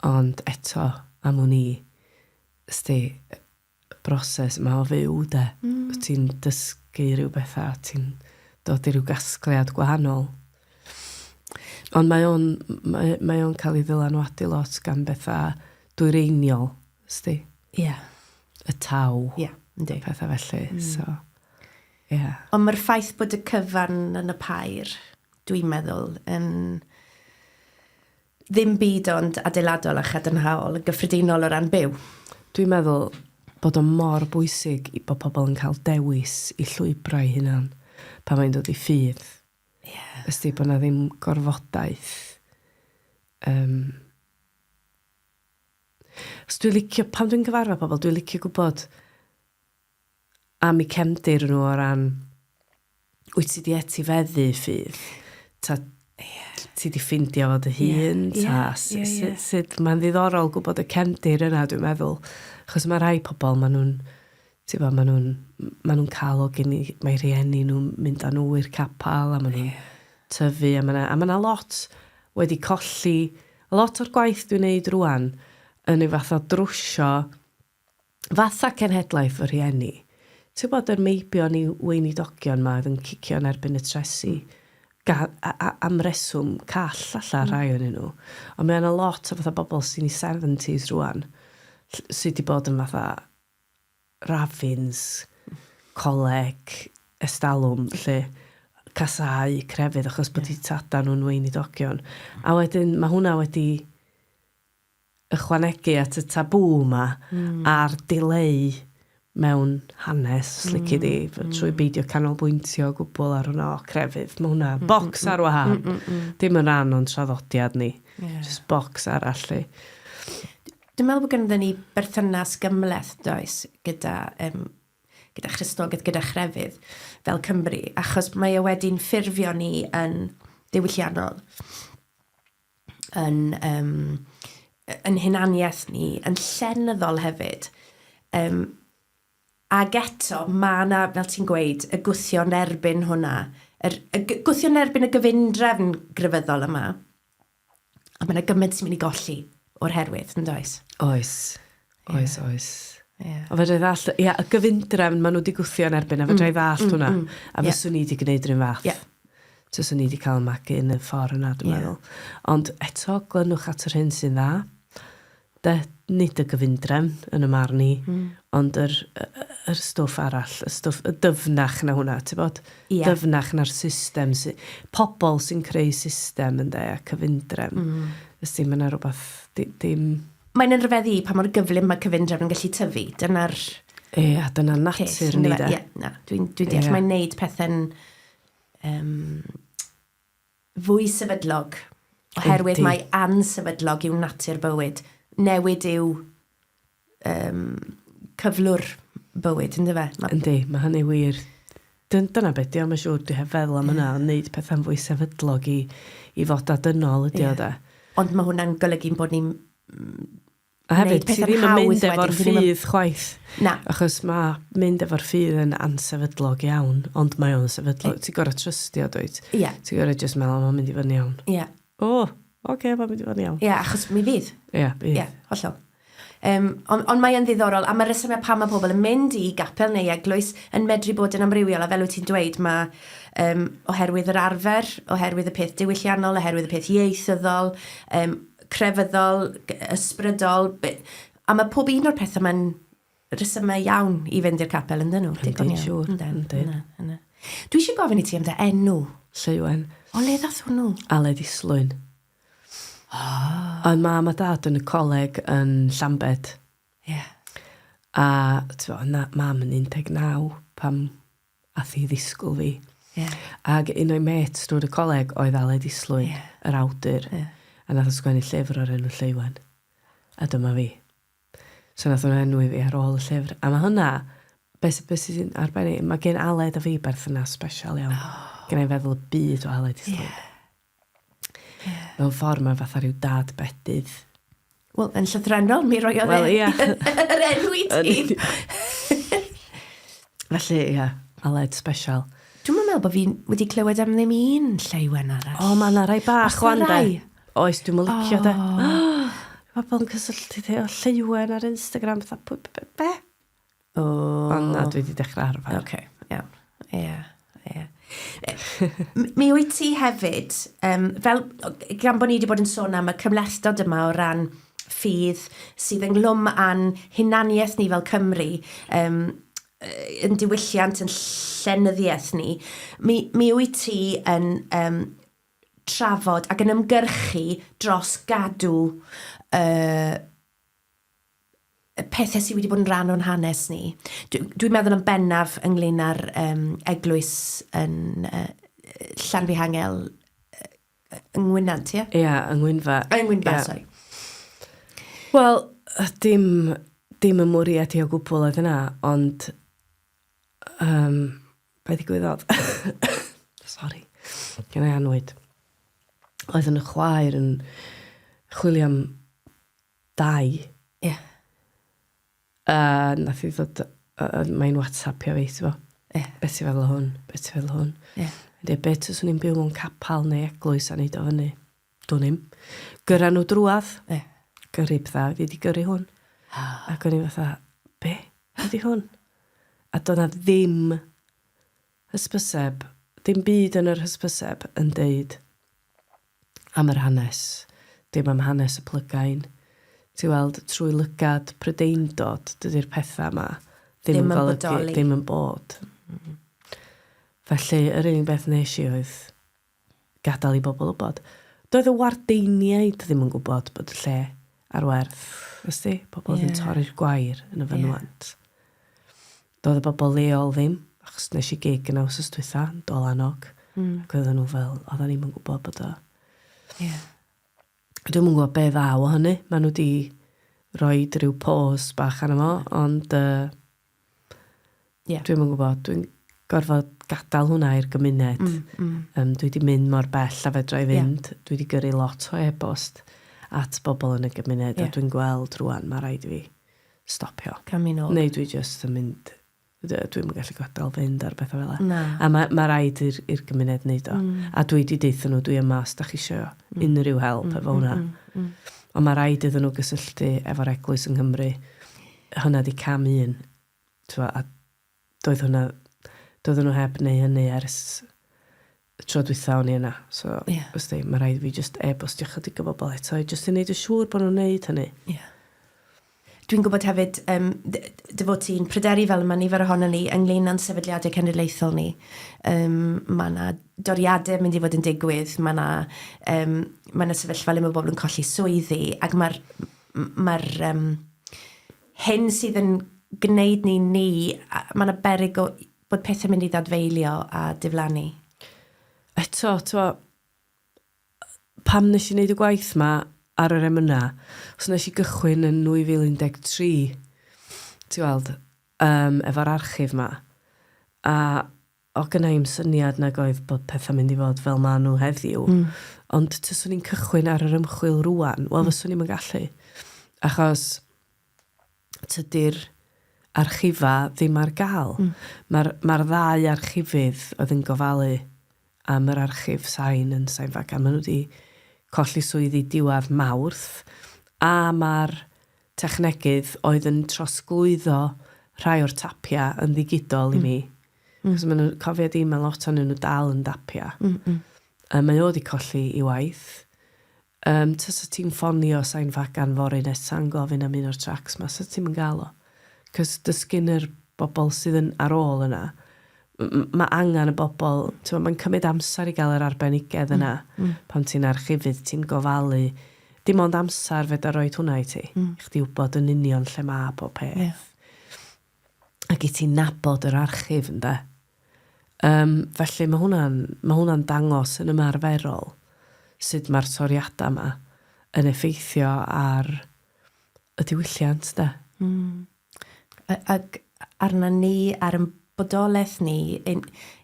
Ond eto, am wn i, sti, broses 'ma o fyw 'de. Hmm. Wt ti'n dysgu rhyw betha a ti'n dod i ryw gasgliad gwahanol. Ond mae o'n mae mae o'n cael ei ddylanwadu lot gan betha dwyreiniol, sdi? Ie. Yeah. Y taw. Ie, yeah, yndi. Petha felly, mm. so. Ie. Yeah. Ond mae'r ffaith bod y cyfan yn y pair, dwi'n meddwl, yn Ddim byd ond adeiladol a chadarnhaol yn gyffredinol o ran byw. Dwi'n meddwl bod o mor bwysig i- bod pobl yn cael dewis i llwybrau hunan pan mae'n dod i ffydd. Ie. Ysti, bod 'na ddim gorfodaeth. Yym. Os dwi licio, pan dwi'n cyfarfod pobl, dwi licio gwbod am eu cefndir nhw o ran, wyt ti di etifeddu ffydd? Ta, yeah. ti di ffindio fod y hun? Yeah. Ta, yeah. Sut, yeah, yeah. sut mae'n ddiddorol gwybod y cefndir yna, dwi'n meddwl. Chos mae rhai pobl, maen nhw'n, ti'n fawr, maen nhw'n, maen nhw'n cael o gen i, mae rhieni nhw'n mynd â nhw i'r capel, a maen nhw'n yeah. tyfu, a mae yna lot wedi colli, a lot o'r gwaith dwi'n neud rwan, yn ei fath o drwsio Fatha cenhedlaeth fy rhieni. Tybod yr meibion i weinidogion 'ma oedd yn cicio yn erbyn y tresi? Ga- a- a- am reswm call falla rhai ohonyn nhw. Ond mae yna lot o fatha bobl sy'n 'u seventies rŵan ll- sy' 'di bod yn fatha raffins, coleg, estalwm 'lly. Casáu crefydd achos bod 'u tadau nhw'n weinidogion. A wedyn ma' hwnna wedi ychwanegu at y tabŵ 'ma a'r dileu mewn hanes, os lici di, trwy beidio canolbwyntio o gwbl ar hwnna. O, crefydd, mae hwnna, bocs ar wahân. Dim yn rhan o'n traddodiad ni. Jyst bocs arall 'lly. Dwi'n meddwl bod ganddo ni berthynas gymhleth, does, gyda Christnogaeth, gyda chrefydd fel Cymry, achos mae o wedi'n ffurfio ni yn ddiwylliannol. yn, um, yn hunaniaeth ni, yn llenyddol hefyd. Um, ac eto, mae yna, fel ti'n gweud, y gwthio yn erbyn hwnna, yr, y gwthio yn erbyn y gyfundrefn grefyddol yma. A mae yna gymaint sy'n mynd i golli o'r herwydd, yn does? Oes. Oes, oes. Ie. Ond fedrai ddallt, ia, y gyfundrefn ma' nhw 'di gwthio yn erbyn a fedrai ddallt mm, mm, hwnna. Mm, a yeah. fyswn i 'di gwneud yr un fath. Yeah. Tyswn i 'di cael magu yn y ffordd yna, dwi'n yeah. meddwl. Ond eto, glynwch at yr hyn sy'n dda. De, nid y gyfundrefn yn y marn i, mm. ond yr, yr stwff arall, y stwff y dyfnach na hwnna, ti'n bod? Yeah. Dyfnach na'r system. Sy, pobl sy'n creu system yn de, a cyfundrefn. Mm. Ysdi, mae yna rhywbeth, dim... Di, Mae'n yn rhyfeddu i pa mor gyflym mae cyfundrefn yn gallu tyfu. Dyna'r... Ia, dyna natur ni de. Ia, na, dwi'n dwi deall. Mae'n neud pethau'n um, fwy sefydlog. Oherwydd mae ansefydlog yw natur bywyd. Newid yw um, cyflwr bywyd, ynddo fe? Yndi, mae hynny wir. Dyn- dyna be' 'di o mae'n siŵr. Dwi heb feddwl am hynna ond neud petha'n fwy sefydlog i i fod â dynol ydi o 'de? Ond ma' hwnna'n golygu'n bod ni'n mm A hefyd neud petha'n hawdd wedyn ti ddim yn mynd efo'r ffydd chwaith. Na. Achos ma' mynd efo'r ffydd yn ansefydlog iawn ond mae o'n sefydlog. Ti'n gor'o' trystio dwyt? Ia. Ti gor'o' jyst me'wl o ma'n mynd i fod yn iawn. Ia. O! Oce ma'n mynd i fod yn iawn. Ia achos mi fydd. Ia bydd. Ia hollol. Yym, ond, ond mae yn ddiddorol, am y rhesymau pam mae pobl yn mynd i gapel neu eglwys yn medru bod yn amrywiol, a fel wyt ti'n dweud, mae um, oherwydd yr arfer, oherwydd y peth diwylliannol, oherwydd y peth ieithyddol, um, crefyddol, ysbrydol, a mae pob un o'r pethau mae'n rhesymau iawn i fynd i'r capel ynddyn nhw. Digon iawn. Siwr. Yndyn. Dwi eisiau gofyn i ti am dy enw. Lleuwen. O le ddath hwnnw? Aled Islwyn. Oh. Oedd mam a dad yn y coleg yn Llambed. Ie. Yeah. A ti'n bod, na, mam yn 19 pam ath i ddisgwyl fi. Yeah. Ac un o'i met drwy'r y coleg oedd Aled Islwyn, yeah. yr awdur. Yeah. A nath o sgwennu llyfr o'r enw Lleuwen. A dyma fi. So nath o'n enw i fi ar ôl y llyfr. A mae hwnna, beth be sy'n arbennig, mae gen Aled a fi berthynas special iawn. Oh. Gen i'n feddwl y byd o Aled Islwyn. Yeah. mewn ffordd mae fatha rhyw dad bedydd. Wel, yn llythrenol, mi roi oedd well, yeah. yr enw i ti. Felly, ia, yeah, Aled special. Dwi'n meddwl bod fi wedi clywed am ddim un lleuen arall. O, mae yna rai bach o ande. Oes, dwi'n meddwl licio de. Mae bod yn cysylltu te o lleuen ar Instagram. Be? O. Ond na, dwi wedi dechrau arfer. Oce, iawn. Ie, ie. Mi wyt ti hefyd, um, fel, gan bod ni wedi bod yn sôn am y cymhlethdod yma o ran ffydd sydd ynglwm â'n hunaniaeth ni fel Cymru, um, yn diwylliant, yn llenyddiaeth ni, mi, mi wyt ti yn um, trafod ac yn ymgyrchu dros gadw uh, y pethau sydd wedi bod yn rhan o'n hanes ni. Dwi'n dwi meddwl yn bennaf ynglyn â'r um, eglwys yn uh, Llanfihangel yng Ngwynant, ie? Ie, yeah, yng Ngwynfa. Yng Ngwynfa, yeah. sori. Wel, dim, dim y mwriad i o gwbl oedd yna, ond... Um, be ddigwyddodd? sori, gen i anwyd. Oedd yn y chwaer yn chwilio am Dai. Ie. A nath hi ddod yy yy mae'n watsapio fi t'bo'... Ie. ...be' ti feddwl o hwn? Be' ti feddwl o hwn? Ie. O'n deu be' tyswn i'n byw mewn capal neu eglwys a neud o fyny? Dwn i'm. Gyrra n'w drwadd. Ie. Gyrru petha oedd 'i 'di gyrru hwn. Ac o'n i fatha be'? Be' 'di hwn? A do' 'na ddim hysbyseb dim byd yn yr hysbyseb yn deud am yr hanes, dim am hanes y plygain. Ti'n weld, trwy lygad Prydeindod, dydy'r pethau yma ddim yn golygu ddim yn bod. Felly, yr unig beth nes i oedd gadael i bobl wybod. Doedd y wardeiniaid ddim yn gwybod bod y lle ar werth, ysdi? Pobl oedd yn torri'r gwair yn y fynwant. Doedd y bobl leol ddim, achos wnes i gig yna wsos dwytha, yn dol annog. Mm. Ac oedden nhw fel, oedden ni'n mynd gwybod bod o. Ie. Yeah. Dwi'n mwyn gwybod be ddaw o hynny. Mae nhw di roi rhyw pôs bach arno fo, ond... Uh, yeah. Dwi'n mwyn gwybod, dwi'n gorfod gadael hwnna i'r gymuned. Mm, mm. Um, dwi wedi mynd mor bell a fedra i fynd. Yeah. Dwi wedi gyrru lot o e-bost at bobl yn y gymuned yeah. a dwi'n gweld rwan, mae rhaid i fi stopio. Camino. Neu dwi jyst yn mynd... Dw- dwi'm yn gallu gadael fynd ar bethau fel 'na. Na. A ma' ma' raid i'r i'r gymuned neud o. Mm. A dwi 'di deutho nhw dwi yma os 'dach chi isio... Mm. ...unrhyw help... Mm. ...efo hwnna. Mm. Mm. Mm. Ond ma' raid iddyn nhw gysylltu efo'r eglwys yng Nghymru. Ie. Hwnna 'di cam un. T'mo' a doedd hwnna... doedden nhw heb neu hynny ers y tro dwytha o'n i yna. So, wsti, yeah. mae rhaid fi just e-bostio chydig o bobl eto, just i wneud y siŵr bod nhw'n wneud hynny. Yeah. Dwi'n gwybod hefyd, um, dy fod ti'n pryderu fel yma nifer ohono ni ynglyn â'n sefydliadau cenedlaethol ni. Um, mae yna doriadau mynd i fod yn digwydd, mae yna, um, mae yna sefyllfa le mae bobl yn colli swyddi, ac mae'r... Mae'r um, hyn sydd yn gwneud ni ni, a mae yna berig o bod pethau'n mynd i ddadfeilio a diflannu. Eto, twa, pam nes i wneud y gwaith yma ar yr emynau, os nes i gychwyn yn 2013, ti'n weld, um, efo'r archif yma, a O gynna i'm syniad nag oedd bod pethau'n mynd i fod fel maen nhw heddiw. Mm. Ond tyswn i'n cychwyn ar yr ymchwil rwan, wel mm. fyswn i'n gallu. Achos tydy'r archifa ddim ar gael. Mm. Mae'r ma ddau archifydd oedd yn gofalu am yr archif sain yn sain fagan. Maen nhw wedi colli swyddi diwadd mawrth a mae'r technegydd oedd yn trosglwyddo rhai o'r tapiau yn ddigidol i mi. Cos maen nhw'n cofio di, mae lot o'n nhw dal yn dapiau. Um, mae o wedi colli i waith. Um, ta sa ti'n ffonio Sain Fagan fori nesa'n gofyn am un o'r tracs ma, sa ti'n mynd gael o. Cos dysgyn yr bobl sydd yn ar ôl yna, Mae angen y bobl, timod, mae'n cymryd amser i gael yr arbenigedd yna. Pan ti'n archifydd, ti'n gofalu, dim ond amser fedar roed hwnna i ti. I chdi wybod yn union lle mae pob peth. Ac i ti nabod yr archif, ynde. Yym, felly mae hwnna'n, mae hwnna'n dangos yn ymarferol sut mae'r toriadau yma yn effeithio ar y diwylliant, de. ac arnon ni, ar ein bodolaeth ni, un,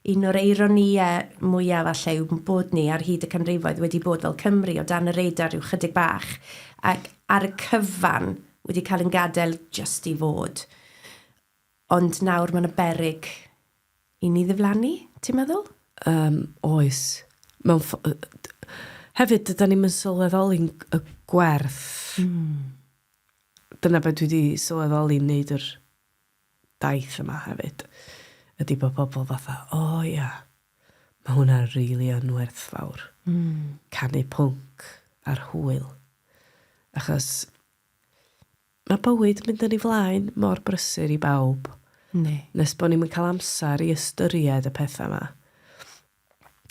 un o'r eironïau mwyaf falle yw bod ni ar hyd y canrifoedd wedi bod fel Cymru o dan y radar rhyw chydig bach, ac ar y cyfan wedi cael ein gadael jyst i fod. Ond nawr mae yna beryg i ni ddiflannu, ti'n meddwl? Yym, oes. Mewn ffo- yy d- hefyd, dydan ni'm yn sylweddoli'n y gwerth... Mm. dyna be dwi 'di sylweddoli'n neud yr daith yma hefyd ydi bo' pobol fatha o ia ma' hwnna rili yn werthfawr. Hmm. Canu pwnc ar hwyl. Achos ma' bywyd mynd yn ei flaen mor brysur i bawb. Yndi. Nes bo' ni'm yn ca'l amsar i ystyried y petha 'ma.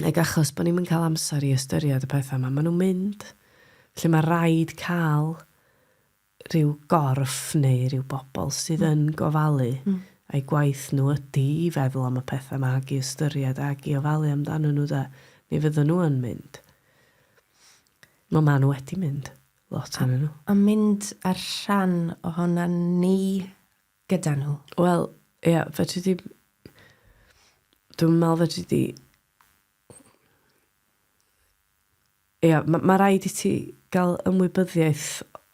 Ac achos bod ni'm yn cael amser i ystyried y pethau 'ma, maen nhw'n mynd. Felly mae'n rhaid cael rhyw gorff neu rhyw bobl sydd yn gofalu, a'u gwaith nhw ydy i feddwl am y pethau 'ma ac i ystyried ac i ofalu amdanyn nhw de. Mi fyddan nhw yn mynd. Wel, maen nhw wedi mynd, lot ohonyn nhw. A mynd â'r rhan ohonan ni gyda nhw? Wel, ia, fedri di... Dwi'n meddwl fedri di... Ia, mae ma rhaid i ti gael ymwybyddiaeth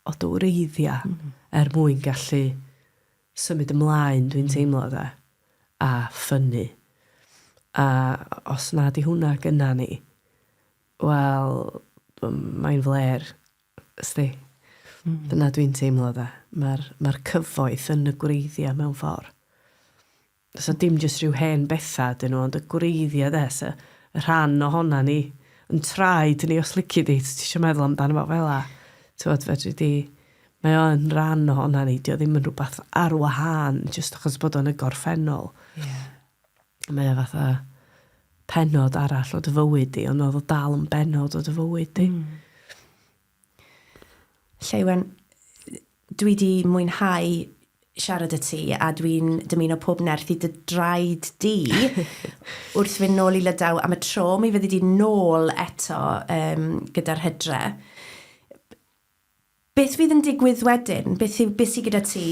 o dy wreiddiau mm -hmm. er mwyn gallu symud ymlaen, dwi'n mm -hmm. teimlo, da, a ffynnu. A os na di hwnna gyna ni, Wel, mae'n flêr, sdi. Mm. Dyna dwi'n teimlo dda. Mae'r ma cyfoeth yn y gwreiddiau mewn ffordd. So dim jyst rhyw hen bethau dyn nhw, ond y gwreiddiau de, so, y rhan ohona ni, yn traed ni os lici di, ti eisiau meddwl amdano fo fel la. Tywod, fedri di, mae o'n rhan ohona ni, di o ddim yn rhywbeth ar wahân, jyst achos bod o'n y gorffennol. Yeah. Mae o fatha pennod arall o dy fywyd di, ond oedd o dal yn bennod o dy fywyd di. Mm. Lleuwen, dwi di mwynhau siarad y ti a dwi'n dymuno pob nerth i dy draed di wrth fynd nôl i Lydaw am y tro. Mi fyddi di nôl eto um, gyda'r hydre. Beth fydd yn digwydd wedyn? Beth yw, beth sy gyda ti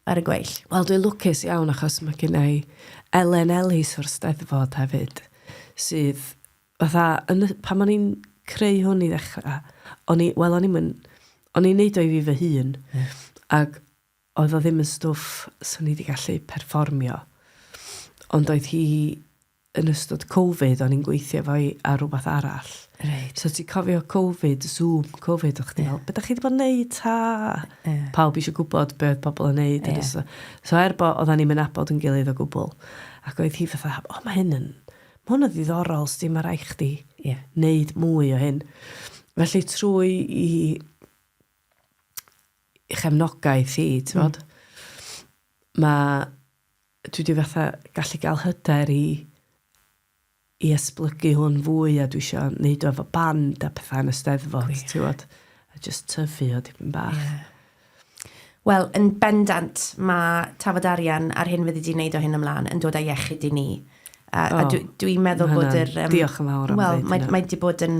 ar y gweill? Wel dwi'n lwcus iawn achos mae gynna i Elen Ellis o'r Steddfod hefyd sydd fatha yn y... pan o'n i'n creu hwn i ddechrau o'n i... wel o'n i'm yn... o'n i'n wneud o i fi fy hun ac oedd o ddim yn stwff 'swn i 'di gallu perfformio ond oedd hi yn ystod Covid, o'n i'n gweithio fo i ar rhywbeth arall. Reit. So ti'n cofio Covid, Zoom, Covid, o'ch ti'n yeah. meddwl, beth ydych chi wedi bod yn neud ta? Yeah. Pawb eisiau gwybod beth oedd pobl yn neud. Yeah. So, so er bod, oedden ni'n mynd abod yn gilydd o gwbl. Ac oedd hi fatha, o, oh, mae hyn yn, mae hwn yn ddiddorol, sdi, mae rai chdi yeah. neud mwy o hyn. Felly trwy i, i chefnogaeth hi, ti'n mm. mae dwi wedi fatha gallu gael hyder i i esblygu hwn fwy a dwi eisiau neud o efo band a pethau yn y steddfod, oh, yeah. tiwod, a just tyfu o dipyn bach. Yeah. Wel, yn bendant, mae tafod arian ar hyn fyddi di'n neud o hyn ymlaen yn dod â iechyd i ni. A, oh, a dwi'n dwi meddwl bod yr... Um, diolch yn fawr am well, ddeud mae, mae di bod yn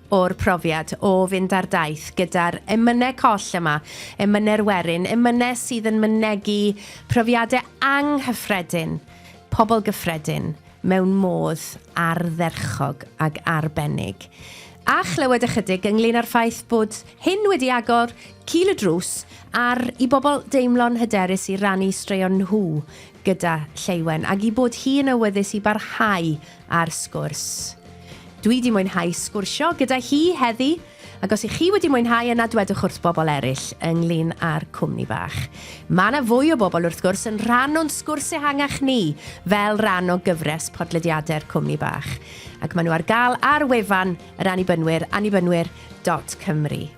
o'r profiad o fynd ar daith gyda'r emynau coll yma, emynau'r werin, emynau sydd yn mynegi profiadau anghyffredin, pobl gyffredin, mewn modd ardderchog ac arbennig. A chlywed ychydig ynglŷn â'r ffaith bod hyn wedi agor cil y drws ar i bobl deimlo'n hyderus i rannu straeon nhw gyda Lleuwen, ac i bod hi yn awyddus i barhau ar Sgwrs. Dwi 'di mwynhau sgwrsio gyda hi heddi, ac os 'ych chi wedi mwynhau yna dwedwch wrth bobl eraill ynglyn â'r cwmni bach. Mae 'na fwy o bobl wrth gwrs yn rhan o'n sgwrs ehangach ni fel rhan o gyfres podlediadau'r cwmni bach, ac maen nhw ar gael ar wefan yr Annibynwyr, annibynwyr dot cymru.